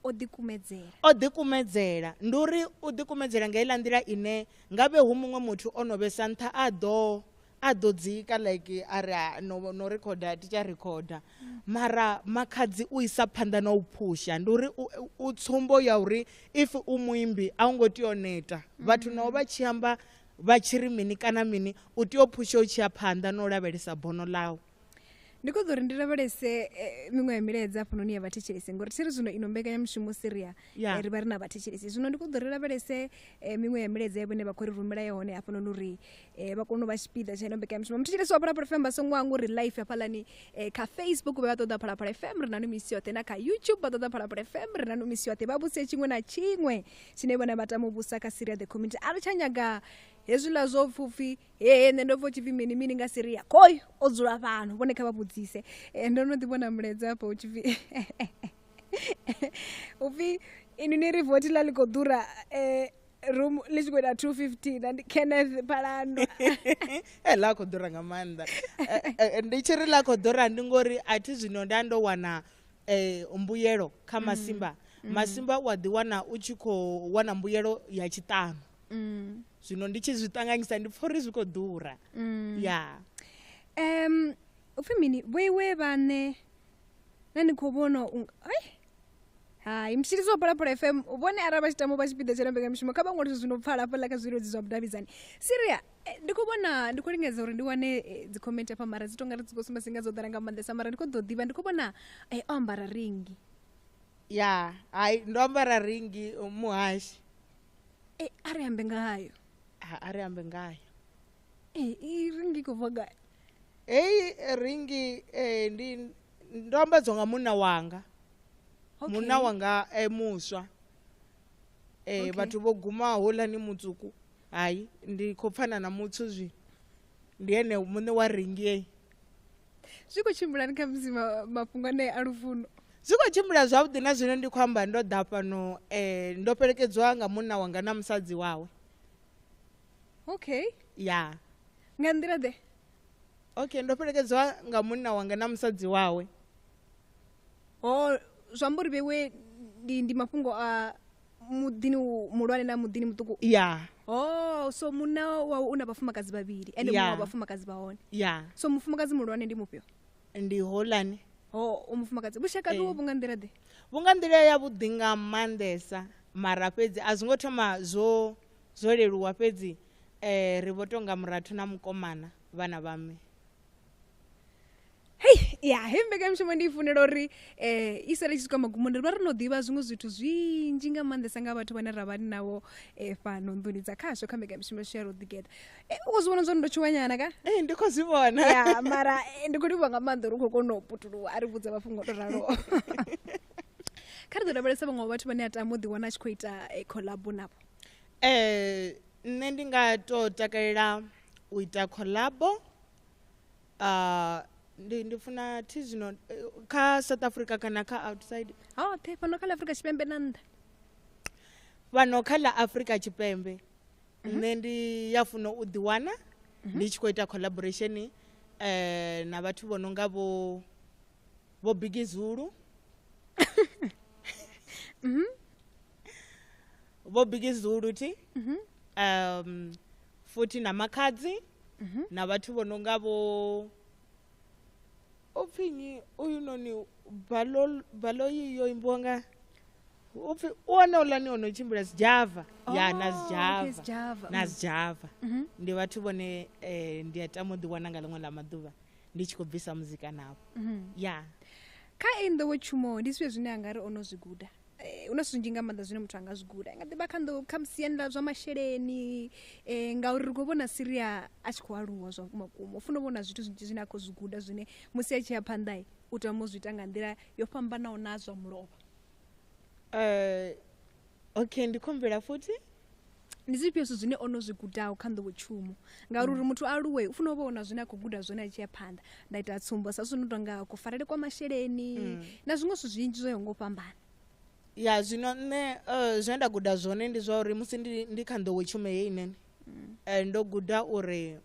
o ḓikumedzela o ḓikumedzela ndi uri u ḓikumedzela nga iḽa nḓila ine nga vhe hu muṅwe muthu o no vhesa nṱha a ḓo a ḓo dzika like a ri no, no rekhoda ti tshi rekhoda mara makhadzi u isa phanḓa na u phusha ndi uri u tsumbo ya uri if u muimbi a u ngo tea o neta vhathu naho vha tshi amba Vha tshi ri mini kana mini, u tea u phusha u tshi ya phanḓa na u lavhelesa bono ḽau. Ndi khou ṱoḓa uri
ndi lavhelese eh, miṅwe ya milaedza hafhanoni ya vhathetshelesi ngori thi ri zwino ino mbekanyamushumo siria Ya. eh, ri vha ri na vhathetshelesi zwino ndi khou ṱoḓa uri ri lavhelese eh, miṅwe ya milaedza ya vhone vha khou ri rumela yone hafhanoni uri eh, vha kone u vha tshipiḓa tsha ino mbekanyamushumo muthetshelesi wa phalaphala fm vha songo hangwa uri life hafhaḽani eh, kha facebook vha vha ṱoḓa phalaphala fm ri nanu misi yoṱhe na kha youtube vha ṱoḓa phalaphala fm ri nanu misi yoṱhe vha vhuse tshiṅwe na tshiṅwe tshine vhona vha tama u vhusa kha syria the community a ri tsha nyaga hezwiḽa zwo pfupfi hee nṋe ndo pfa u tshipfi mini mini nga syria koi o dzula fhano vhone kha vha vhudzise eh, ndo no ḓi vhona mulaedza hafha u tshipfi upfi ini ni ri voti ḽa ḽi khou ḓura um room ḽi tshi khou ita two fifteen andi kenneth phalando e ḽa
khou ḓura nga maanḓa eh, eh, ndi tshi ri ḽa khou ḓura ndi ngori a thi zwino nda ndo wana eh, mbuyelo kha mm. masimba mm. masimba u a ḓiwana u tshi khou wana mbuyelo ya tshiṱanu mm. zwino ndi tshi zwi ṱanganyisa ndi pfha uri zwi khou ḓura mm. ya um upfhi mini vhoiwe vhane
na ni khou vhona ai hai mutshilisi wa phalaphala fm vhone arali vha tshi tamo vha tshipiḓa tsha na mbekamishumo kha vha ṅwale zwithu zwi no pfala hafhaḽa kha zwilodzi zwa vhudavhidzani siria Eh, ndi khou vhona ndi khou lingedza uri ndi wane eh, dzi comment afha mara dzi tonga ri dzi khou sumba singa dzo ḓala nga maanḓesa mara ndi khou ḓo ḓivha ndi khou vhona eh, o ambara ringi ya
hai ndo ambara ringi uh, muhashi Eh,
a ri ambe ngayo Ha, a ri ambe
ngayo Eh, i
ringi i khou bva gai heyi eh,
ringi eh, ndi ndo ambadzwa nga munna wanga Okay. munna wanga eh, muswa eh, Okay. vhathu vho guma holani mutsuku Hai ndi khou pfana na muthu zwi ndi ene muṋe wa ringi
Zwi khou tshimbilani kha musi mafhungo anea a lufuno? Zwi khou tshimbila
zwavhuḓi na zwino ndi khou amba ndo ḓa fhano eh, ndo fhelekedziwa nga munna wanga na musadzi wawe Okay. ya Nga nḓila
ḓe? okay ndo
fhelekedziwa nga munna wanga na musadzi wawe Ho
zwi amba uri vhewe ndi ndi mafhungo a muḓini u- muhulwane na muḓini muṱuku ya oh
so
munna wawe u na vhafumakadzi vhavhili ende Yeah. muṅwe wa vhafumakadzi vha hone ya so mufumakadzi muhulwane ndi mufhio ndi holani
oh u mufumakadzi
vhushaka Eh. vhuwo vhu nga nḓila ḓe vhu nga nḓila yavhuḓi
nga maanḓesa mara fhedzi a zwi ngo thoma zwo zwo leluwa fhedzi um ri vho tonga murathu na mukomana vhana vha mme
hei ya hei mbekanyamushumo ndi i funela uri um i sale i tshi swika magumoni ri vha ri no ḓivha zwiṅwe zwithu zwinzhi nga maanḓesa nga vhathu vhane ra vha ni navho um fhano nḓuni dza khasho kha mbekanyamushumo yashu ya roḓigetha um u khou zwi vhona zwo ri ndo tshuwanyana ka ee ndi khou zwi vhona
ya mara eh, ndi khou
livhuwa nga maanḓa uri u khou kona u putuluwa a ri vhudza mafhungo o to raloho kha ri ḓo lavhelesa vhaṅwe wa vhathu vhane a tama u ḓiwana a tshi khou ita eh, collabo navho um
nṋe ndi nga to takalela u ita collabo uh, ndi ndi funa thi zwino eh, kha south africa kana kha outside hoṱhe oh, fhano kha la
afurika tshipembe na nnḓa
fhano kha la afurika tshipembe mhm. nṋe ndi ya funa u ḓiwana mhm. ndi tshi khou ita collaboration um na vhathu vho no nga vho vho bigi zulu mhm. vho bigi zulu thi mhm. um futhi na makhadzi mhm. na vhathu vho no nga vho u pfhi nyi uyu noni baloyi yo imbiwa nga u pfhi u wana ulani o no tshimbila zijava oh, ya na zijava na zijava ndi vhathu vhone um ndi a tama u ḓiwana nga ḽiṅwe ḽa maḓuvha ndi tshi khou bvisa muzika navho mhm. ya kha eyi
nḓowetshumo ndi zwifhio zwine a nga ri o no zwi guda eh, hu na zwinzhi nga maanḓa zwine muthu a nga zwi guda nga ḓivha kha nḓowo kha musiani ḽa zwa masheleni um ngauri ri khou vhona siria a tshi khou aluwa zwa vhumakuma u funa u vhona zwithu zwinzhi zwine a khou zwi guda zwine musi a tshi ya phanḓa u tama u zwi ita nga nḓila yo fhambanaho na zwa mulovha um
okay ndi khombela futhi ndi zwifhio
zwithu zwine ono zwi gudaho kha nḓowetshumo ngauri uri muthu aluwe u funa u vha ona zwine a khou guda zwone a tshi ya phanḓa nda ita tsumbo sa zwino tonga kufarele kwa masheleni mm. na zwiṅwe zwithu zwinzhi zwo yaho ngo fhambana ya
zwino nṋe uh, zwine nda guda zwone ndi zwa uri musi ndi, ndi kha nḓowetshumo ye inene mm. uh, ndo guda uri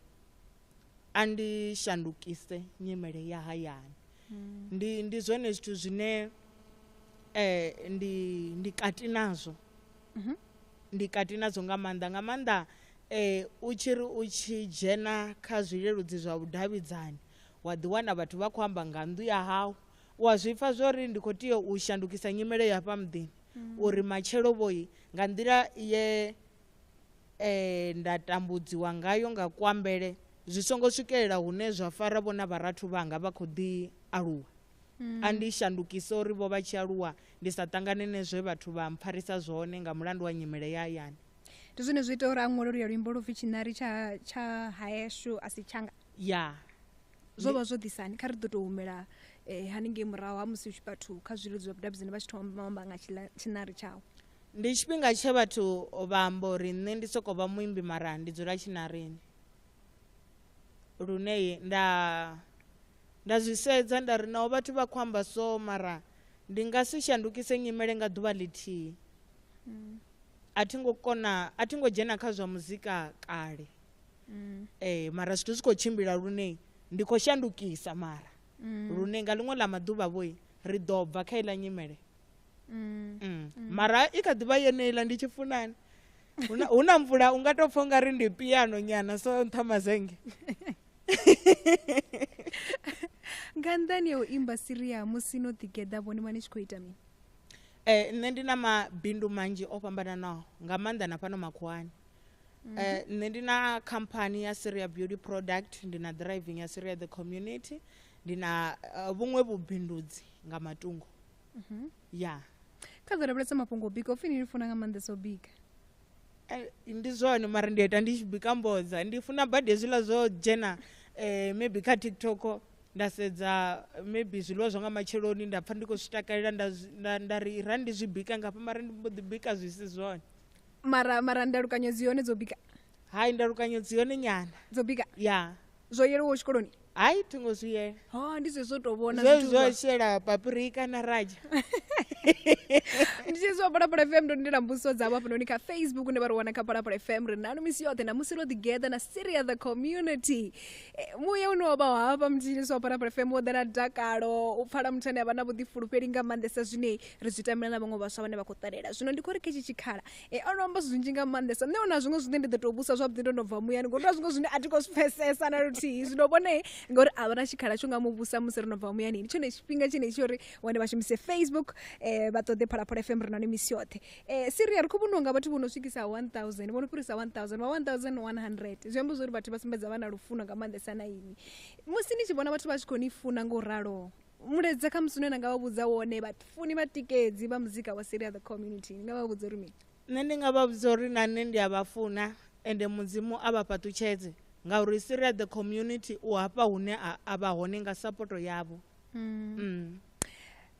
a ndi shandukise nyimele ya hayani mm. ndi, ndi zwone zwithu zwine uh, ndi, ndi kati nazwo mhm. ndi kati nadzo nga maanḓa nga maanḓa um u tshi ri u tshi dzhena kha zwileludzi zwa vhudavhidzani wa ḓiwana vhathu vha khou amba nga nnḓu ya hau u a zwi pfa zwo ri ndi khou tea u shandukisa nyimele ya hafha muḓini mm. uri matshelo vhoyi nga nḓila ye um nda tambudziwa ngayo nga kuambele zwi songo swikelela hune zwa fara vhona vharathu vhanga vha khou ḓi aluwa A ndi i shandukise uri vho vha tshi aluwa ndi sa ṱangane ne zwe vhathu vha mpfarisa zwone nga mulandu wa nyimele ya hayani. Ndi zwone zwi ita
uri a ṅwale oluya luimbo lu pfi Tshiṋari tsha tsha Haeshu a si Tshanga. Ya.
Zwo vha
zwo ḓisani? Kha ri ḓo tou humela haningei murahu ha musi vhathu kha zwileludzi zwa vhudavhidzani vha tshi thoma vha amba nga tshiṋari tshawe. Ndi tshifhinga
tshe vhathu vha amba uri nṋe ndi sokou vha muimbi mara ndi dzula tshiṋarini lune nda. Nda zwi sedza nda ri naho vhathu vha khou amba so mara ndi nga si shandukise nyimele nga ḓuvha ḽithihi mm. a thi ngo kona a thi ngo dzhena kha zwa muzika kale mm. eh mara zwithu zwi khou tshimbila lune ndi khou shandukisa mara mm. lune nga ḽiṅwe ḽa maḓuvha vhoi ri ḓo bva kha iḽa nyimele mm. Mm. Mm. mara i kha ḓivha yeneiḽa ndi tshi funani hu na mvula u nga tou pfha u nga ri ndi piano nyana so nṱha mazenge
nga nnḓani ya u imba siria musi no ḓigeḓa vhone vha ni tshi khou ita mini eh nṋe
ndi na mabindu manzhi o fhambananaho nga maanḓa na fhano makhuwani mhm. eh nṋe ndi na khamphani ya Syria Beauty Product ndi na driving ya Syria the community ndi na eh, vhuṅwe vhubindudzi nga matungo mhm. ya kha ḓo
lavhelesa mafhungo o bika u fini ni funa nga maanḓesa o bika Eh,
ndi zwone mara ndi ita ndi tshi bika mbodza ndi funa badi hezwiḽa zwo dzhena um maybe kha tiktok nda sedza maybe zwiḽiwa zwa nga matsheloni nda pfha ndi khou zwi takalela nda ri ra ndi zwi bika ngafha mara ndi mbo ḓi bika zwi si zwone mara mara
ndalukanyo dzi hone dzo bika hai ndalukanyo
dzi hone nyana dzo bika ya yeah.
zwo
yelwaho tshikoloni
hayi thi ngo zwi
yela ha ndi zwezwo tou vhona
zwezwi zwithu zwa zwa- shela
papurika na raja
ndi tshezwi wa phalaphala fm ndo ndila mbudziso dzavho hafhanoni kha facebook une vha ri wana kha phalaphala fm ri nanu misi yoṱhe na musi ro ḓigetha na syria the community Eh, muya une wa vha hafha mutshilisi wa phalaphala fm wo ḓala dakalo u pfala muthu ane a vha na vhuḓifulufheli nga maanḓesa zwine ri zwi tamela na vhaṅwe vhaswa vhane vha khou ṱalela zwino ndi khou ri kha itshi tshikhala e o no amba zwinzhi nga maanḓesa nṋe ona zwiṅwe zwine ndi ḓo tou vhusa zwavhuḓi ndo no bva muyani ngori na zwiṅwe zwine a thi khou zwi pfesesa na luthihi zwino vhone ngori a vha na tshikhala tsho nga mu vhusa musi ro no bva muyani ndi tshone tshifhinga tshine tsho uri wane vha shumise facebook um vha ṱoḓe phalaphala fm ri nani misi yoṱhe um siria ri khou vhoniwa nga vhathu vho no swikisa 1000 vho no fhirisa 1000 vha 1100 zwi amba zwo uri vhathu vha sumbedza vha na lufuno nga maanḓesa na ini musi ni tshi vhona vhathu vha tshi khou ni funa nga u raloho mulaedza kha musi une na nga vha vhudza wone vhafuni vhatikedzi vha muzika wa seria the community ni nga vha vhudza uri mini nṋe ndi nga vha vhudza
uri na nṋe ndi a vha funa ende mudzimu a vha fhaṱutshedze ngauri seria the community u hafha hune a vha hone nga sapoto yavho mm. mm.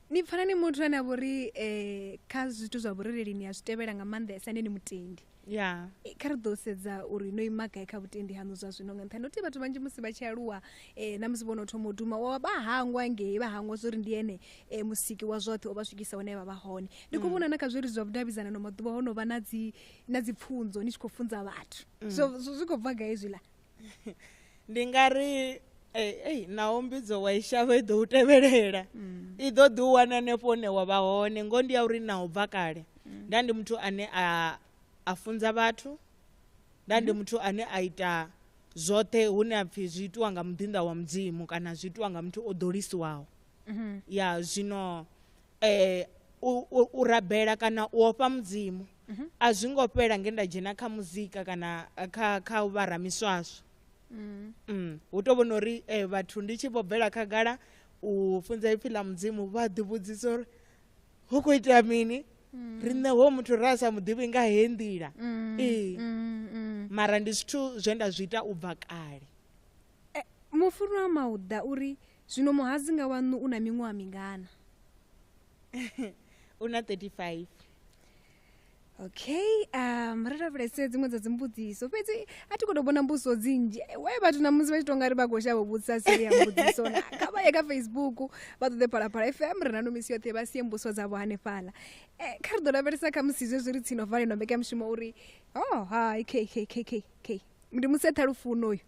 ni
pfana ni muthu ane a vhori um eh, kha zwithu zwa vhurereli ni a zwi tevhela nga maanḓesa ende ni mutendi ya Eh, kha
ri ḓo sedza
uri no ima gai kha vhutendi haṋu zwa zwino nga nṱhani uti vhathu vhanzhi musi vha tshi aluwa um na musi vho no thoma u duma wa vha hangwa ngei vha hangwa zwo uri ndi ene um musiki wa zwoṱhe o vha swikisa hune vha vha hone ndi khou vhona na kha zwiri zwa vhudavhidzanano maḓuvha ho no vha na dzi na dzi pfunzo ni tshi khou funza vhathu zwo zwo- zwi khou bva gai zwiḽa ndi
nga ri ei naho mbidzo wa i shavha i ḓo u tevhelela mm. i ḓo ḓi u wana hanefho hune wa vha hone ngo ndi ya uri na u bva kale mm. nda ndi muthu ane a a funza vhathu nda ndi mm-hmm. muthu ane a ita zwoṱhe hune a pfhi zwi itiwa nga muḓinḓa wa mudzimu kana zwi itiwa nga muthu o ḓolisiwaho mm-hmm. ya zwino um u rabela kana u ofha mudzimu mm -hmm. a zwi ngo fhela nge nda dzhena kha muzika kana kha kha u vha ramiswaswo mm. mm. hu to vhona uri eh, vhathu ndi tshi vho bvela khagala u funza ipfi ḽa mudzimu vha ḓivhudzisa uri hu khou itea mini mm. riṋe ho muthu ra sa muḓivhi nga he nḓila mm. ee mm, mm. mara ndi zwithu zwe nda zwi ita u bva kale e,
mufunwa mauda uri zwino muhadzi nga waṋu u na miṅwaha mingana
u na 35 okay
um ri lavhelese dziṅwe dza dzimbudziso fhedzi a ti khou tou vhona mbudziso dzinzhi we vhathu na musi vha tshi tonga ri vha khou shavha vhudzisa siri ya mbudziso na kha vha ye kha facebook vha ṱoḓe phalaphala fm ri na nomisi yoṱhe vha sie mbudziso dzavho hanefhala e, kha ri ḓo lavhelesa kha musi zwezwi ri tsino valelwa mbekanyamushumo uri oh hai k k k k k ndi museṱha lufuno uyu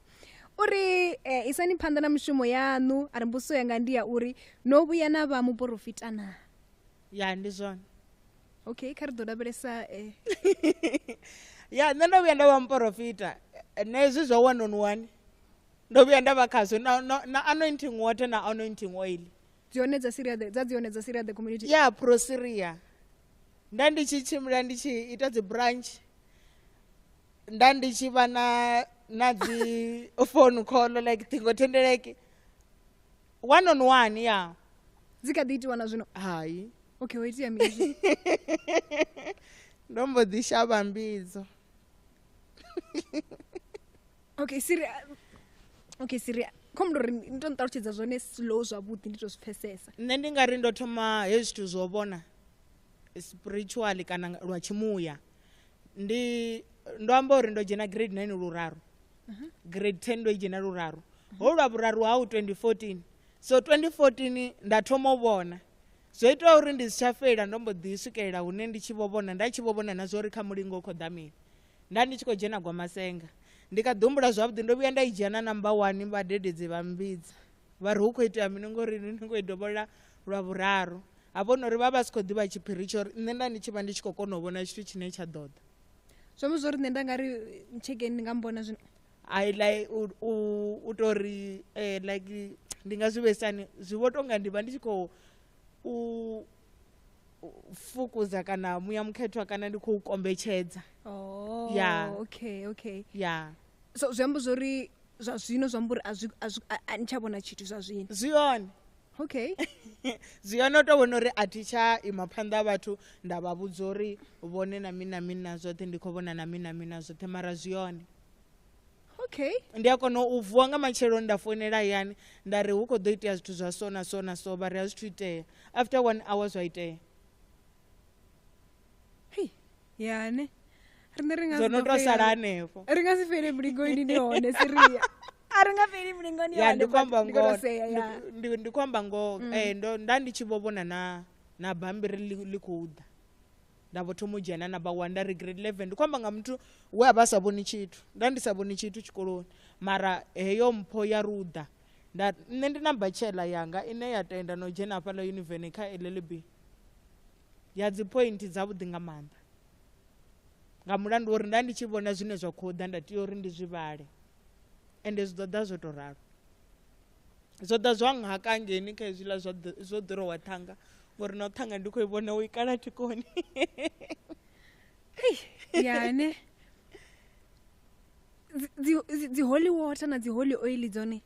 o ri eh, isani phanḓa na mushumo yaṋu a ri mbuso yanga ndi ya uri no vhuya na vha muporofita na ya ndi
zwone okay kha
ri ḓo lavhelesa eh,
ya nṋe ndo vhuya nda vha muporofita Eh, na hezwi zwa one on one ndo vhuya nda vha khazwo na, na, na anointing water na anointing oil dzone dza syria
the- dza dzone dza syria the community ya prosiria
nda ndi tshi tshimbila ndi tshi ita dzi branch nda ndi tshi vha na na dzi phone call like ṱhingothendeleki one on one ya dzi kha ḓi itiwa
na zwino hai okay ho
itea mini ndo mbo ḓi shavha mbidzo
okay siri okay siri khomu ndo ri ni to nṱalutshedza zwone slow zwavhuḓi ndi to zwi pfesesa nṋe ndi nga ri ndo
thoma hezwi zwithu zwo vhona spiritual kana lwa tshimuya ndi ndo amba uri ndo dzhena grade 9 luraru grade 10 ndo i dzhena luraru ho lwa vhuraru hau 2014 so 2014 nda thoma u vhona zwo ita uri ndi si tsha fela ndo mbo ḓi swikelela hune ndi tshi vho vhona nda tshi vho vhona na zwa uri kha mulingo u khou ḓa mini nda ndi tshi khou dzhena gwamasenga ndi kha ḓihumbula zwavhuḓi ndo vhuya nda i dzhia na namba one vhadededzi vha mbidza vha ri hu khou itea mini ngori ni khou i dovholola lwa vhuraru ha vhona uri vha vha si khou ḓivha tshiphiri tsho uri nṋe nda ndi tshi vha ndi tshi khou kona u vhona tshithu tshine tsha ḓo ḓa zwi amba zwo
ri nṋe nda nga ri tshekeni ndi nga mbona zwino i like
u, u, u to ri eh, like ndi nga zwi vhesani zwi vho tonga ndi vha ndi tshi khou u u fukuza kana muya mukhethwa kana ndi khou kombetshedza oh, Yeah. okay
okay ya so
zwi amba zwo
ri zwa zwino zwi amba uri a zwi- a zwi- a- a ni tsha vhona tshithu zwa zwino zwi hone
okay
zwi a
no tou vhona uri a thi tsha ima phanḓa ha vhathu nda vha vhudza uri vhone na mini na mini na zwoṱhe ndi khou vhona na mini na mini na zwoṱhe mara zwi hone
okay ndi a kona
u vuwa nga matsheloni nda foinela hayani nda ri hu khou ḓo itea zwithu zwa so na so na so vha ri a zwithu itea after one hour zwa itea
yane rine ri nga si dzo no ḓo to fhela- sala
hanefho ri nga si fhele mulingoni
ni hone siria a ri nga fheli mulingoni ya hone, ndi khou amba but ndi khou ngoho
tou sea, ya. Mm. Ndi- ndi- ndi khou amba ngoho eh, ndo nda ndi tshi vho vhona na na bambiri ḽi ḽi khou ḓa nda vho thoma u dzhena na vha one nda ri grade 11 ndi khou amba nga muthu we a vha a sa vhoni tshithu nda ndi sa vhoni tshithu tshikoloni mara heyo mpho ya ruḓa Nda, nṋe ndi na bachelor yanga ine ya tenda na u dzhena hafhaḽa yuniveni kha llb ya dziphointhi dzavhuḓi nga maanḓa nga mulandu wa uri nda ndi tshi vhona zwine zwa khou ḓa nda tea uri ndi zwi vhale ende zwi ḓo ḓa zwo tou ralo zwo ḓa zwa nhaka ngeni kha hezwiḽa zwo ḓirowa ṱhanga ngori na u ṱhanga ndi khou i vhona u i kala thikoni
yane dzi holy water na dzi holy oil dzone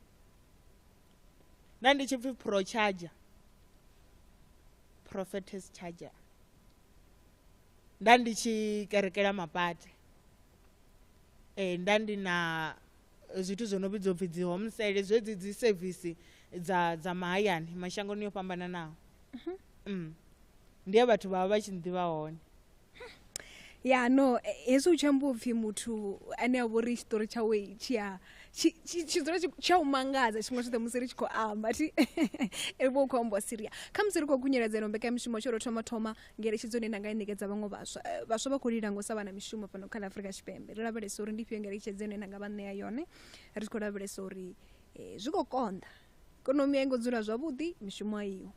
na ndi tshi pfi pro charger prophetess charger nda ndi tshi kerekela mapate eh nda ndi na zwithu zwo no vhidzwa upfi dzi home sale zwedzi dzi service dza dza mahayani mashangoni yo fhambananaho mhm. mm. ndi ya vhathu vha vha vha tshi nḓivha hone
ya no hezwi u tshi amba upfhi muthu ane a vhori tshiṱori tshawe tshia tshidzula tshi a u mangadza tshiṅwe tshoṱhe musi ri tshi khou amba ti ri vho khou amba siria kha musi ri khou kunyeledza ino mbekanyamishumo tsho ro thoma thoma ngeletshedzo ine nda nga i ṋekedza vhaṅwe vhaswa vhaswa vha khou lila ngo sa vha na mishumo fhano kha ḽa afurika tshipembe ri lavhelesa uri ndi fhio ngeletshedzo ine nda nga vha ṋea yone ri khou lavhelesa uri zwi khou konḓa ikonomi a i ngo dzula zwavhuḓi mishumo a iho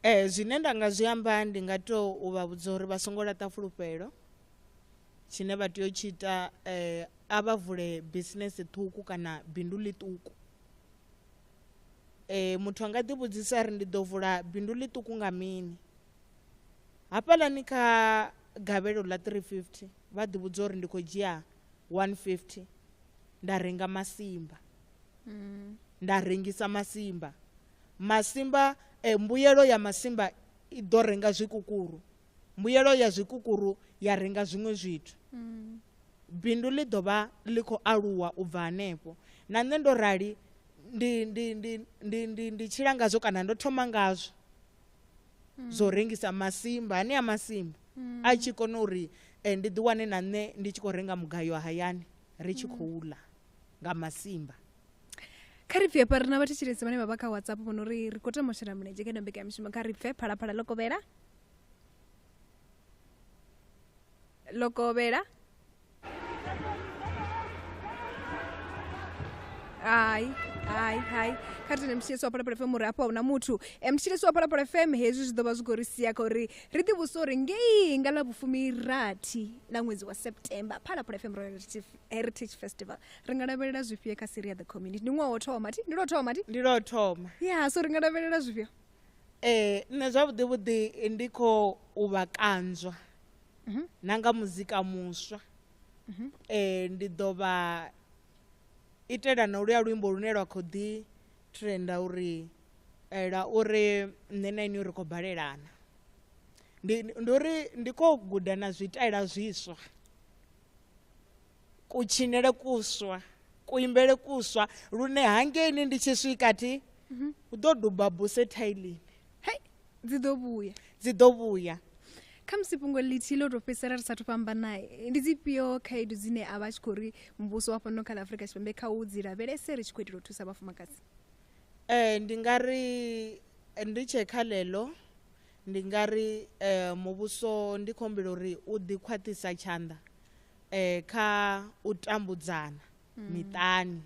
Ee,
zwine nda nga zwi amba ndi nga tou u vha vhudza uri vha songo laṱa fulufhelo tshine vha tea u tshi ita eh, a vha vule bisinese ṱhukhu kana bindu ḽiṱuku eh, muthu a nga ḓivhudzisa ri ndi ḓo vula bindu ḽiṱuku nga mini hafhaḽani kha gavhelo ḽa 350 vha ḓivhudza uri ndi khou dzhia 150 nda renga masimba nda rengisa masimba masimba mbuyelo ya masimba i ḓo renga zwikukuru mbuyelo ya zwikukuru ya renga zwiṅwe zwithu mm. bindu ḽi ḓo vha ḽi khou aluwa u bva hanefho na nṋe ndo rali ndi ndi ndi ndi ndi ndi tshila ngazwo kana ndo thoma ngazwo mm. zwo rengisa masimba hanea masimba mm. a tshi kona uri eh, ndi ḓiwane na nṋe ndi tshi khou renga mugayo hayani ri tshi khou ḽa nga masimba
kha ri pfhe hafha ri na vhathetshelesi vhane vha vha kha whatsapp vho no ri ri khou tama u shela mulenzhe kha ino mbekanyamishumo kha ri pfhe phalaphala ḽo kovhela ḽo kovhela hai hai hai kha ri tene mthetshelesi wa phalaphala fm uri hafha hu na muthu um mthetshelesi wa phalaphala fm hezwi zwi ḓo vha zwi khou ri sia kha uri ri ḓivhuse uri ngei nga ḽa vhufumirathi ḽa ṅwedzi wa september phalaphala fm royal heritage festival ri nga lavhelela zwifhio kha siri ya the community ndi ṅwaha wo thoma ti ndi lwo thoma ti ndi lwo thoma ya so ri nga lavhelela zwifhio ee nṋe
zwavhuḓi vhuḓi ndi khou vha kanzwa mhm. na nga muzika muswa mhm. ee ndi ḓo vha itela na uluya luimbo lune lwa khou ḓi trenda uri eh, lwa uri nṋe na ini ri khou balelana ndi uri ndi khou guda na zwitaela zwiswa kutshinele kuswa kuimbele kuswa lune hangeini ndi tshi swika thi mhm. u ḓo duba buse thailini hei dzi
ḓo vhuya dzi ḓo vhuya kha musi fhungo ḽithihi ḽo tou fhedzisela ri sathu fhambana ndi dzifhio khaedu dzine a vha tshi khou ri muvhuso wa fhano kha ḽa afurika tshipembe kha u dzi lavhelese ri tshi khou itela u thusa vhafumakadzi um
ndi nga ri eh, ndi tshe kha ḽeḽo ndi nga ri um muvhuso ndi khombela uri u ḓi khwaṱhisa tshanḓa eh, kha u tambudzana mm. miṱani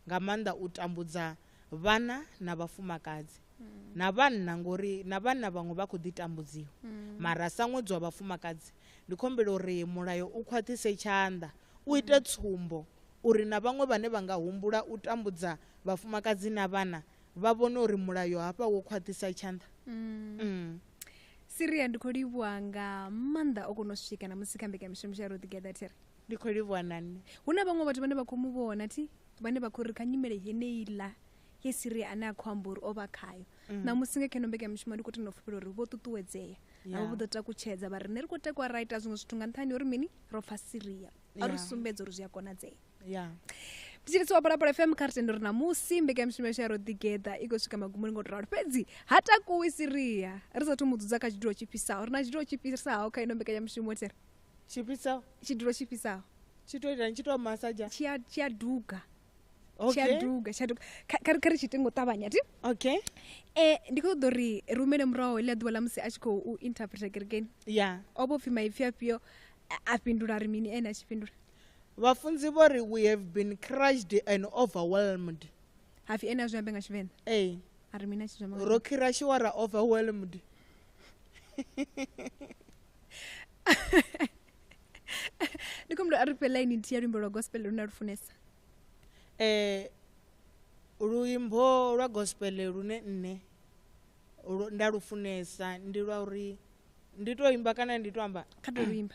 nga maanḓa u tambudza vhana na vhafumakadzi mm. na vhanna ngori na vhanna vhaṅwe vha khou ḓi tambudziwa mm. mara sa ṅwedzi wa vhafumakadzi ndi khombela uri mulayo u khwaṱhise tshanḓa u ite mm. tsumbo uri na vhaṅwe vhane vha nga humbula u tambudza vhafumakadzi na vhana vha vhone uri mulayo hafha wo khwaṱhisa tshanḓa mm. mm.
siria ndi khou livhuwa nga maanḓa o kona u swika na musi kha mbekamishumo ya rotogether thiri ndi khou livhuwa na
nṋe hu na vhaṅwe vhathu vhane vha
khou mu vhona thi vhane vha khou ri kha nyimele yeneiḽa ye siria ane a khou amba uri o vha khayo mm. namusi nga kheno mbekamishumo ndi khou tenda u fhufhela uri vho ṱuṱuwedzea navho vho ḓo takutshedza vha ri ne ri khou takuwa ra ita zwiṅwe zwithu nga nṱhani uri mini ro pfa siria a ri sumbedza uri zwi a konadzea ya mutshilisi wa bolapolo fm kha ri tendo ri na musi mbekanyamushumo yashu ya ro ḓigeḓa i khou swika magumoni ngo to ralo fhedzi ha takuwi siria ri sathu mu dzudza kha tshidulo tshi fhisaho ri na tshidulo tshi fhisaho kha ino mbekanyamushumo tere tshifhisaho tshidulo tshi fhisaho tshi to itani tshi
to masaja tshi a- tshi a duga
tshi a okay duga tshi a duga Kha- kha ri- kha ri tshi ite ngo ṱavhanya ti okay Eh, ndi khou ṱoḓa uri ri humele muraho heḽia ḓuvha ḽa musi a tshi khou u interpreta kerekeni ya o vho pfhi maipfi afhio a- a fhindula ri mini ene a tshi fhindula vhafunzi
vho ri we have been crushed and overwhelmed hapfi ene a
zwi ambe nga tshivenḓa ee a ri mini a tshi zwi amba nga ro khirashiwa ra
overwhelmed
ndi khomdo a ri fhe line nthihi ya luimbo lwa gospel lune a lu funesa eh
luimbo lwa gospel lune nne lu- nda lu funesa ndi lwa uri ndi to imba kana ndi to amba kha ḓo luimba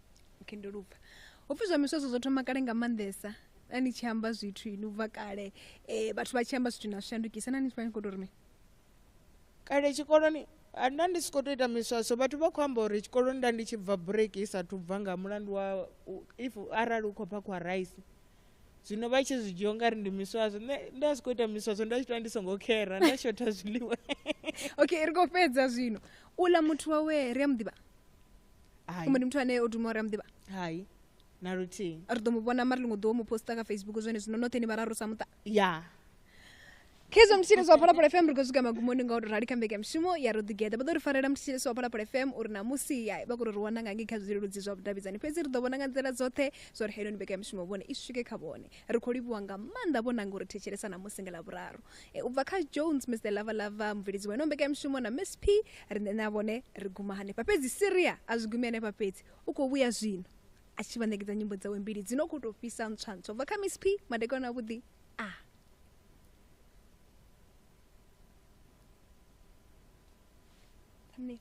okay ndo lupfa
hopfi zwa miswadzo zwo thoma kale nga maanḓesa na ni tshi amba zwithu ini ubva kale um vhathu vha tshi amba zwithu na shandukisa na ni vha ni khou to rime
kale tshikoloni nda ndi si khou to ita miswaso vhathu vha khou amba uri tshikoloni nda ndi tshi bva break i sathu bva nga mulandu wa if arali u khou pha khwa rice zwino vha tshi zwi dzhia ungari ndi miswaso nṋe nda si khou ita miswaso nda tshi tou ndi songo khera nda shotha zwiḽiwa okay ri
khou fhedza zwino u ḽa muthu wawe ri a mu ḓivha Hai.
kumbe ndi muthu ane o duma
uri a muḓivha hai na
luthihi ri ḓo mu vhona mara ḽiṅwe
ḓuvha mu posta kha facebook zwone zwino noṱhe ni vhararu sa muṱa ya khezwo mthetshelesi wa phalaphala fm ri khou swika magumoni nga u rali kha mbeke ya mushumo ya ro ḓigeḓa vha ḓo ri farela mthetshelesi wa phalaphala fm uri namusi ya vha kuri ri wana nga ngei kha zwileludzi zwa vhudavhidzani fhedzi ri ḓo vhona nga nḓila dzoṱhe zwa uri heiloni mbeke ya mushumo vhone i swike kha vhone ri khou livhuwa nga maanḓa vhonanga uri thetshelesa namusi nga ḽavhuraru E, u bva kha jones mr lavalava mubveledzi wa ino mbekanyamushumo na miss p riṋe na vhone ri guma hanefha fhedzi siria a zwi gumi hanefha fhedzi u khou vhuya zwino a tshi vha ṋekedza nyimbo dzawe mbili dzi no khou tou fhisa ntswa ntswa u bva kha miss p madekwana avhuḓi a
Thumbnail.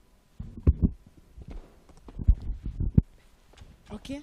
okay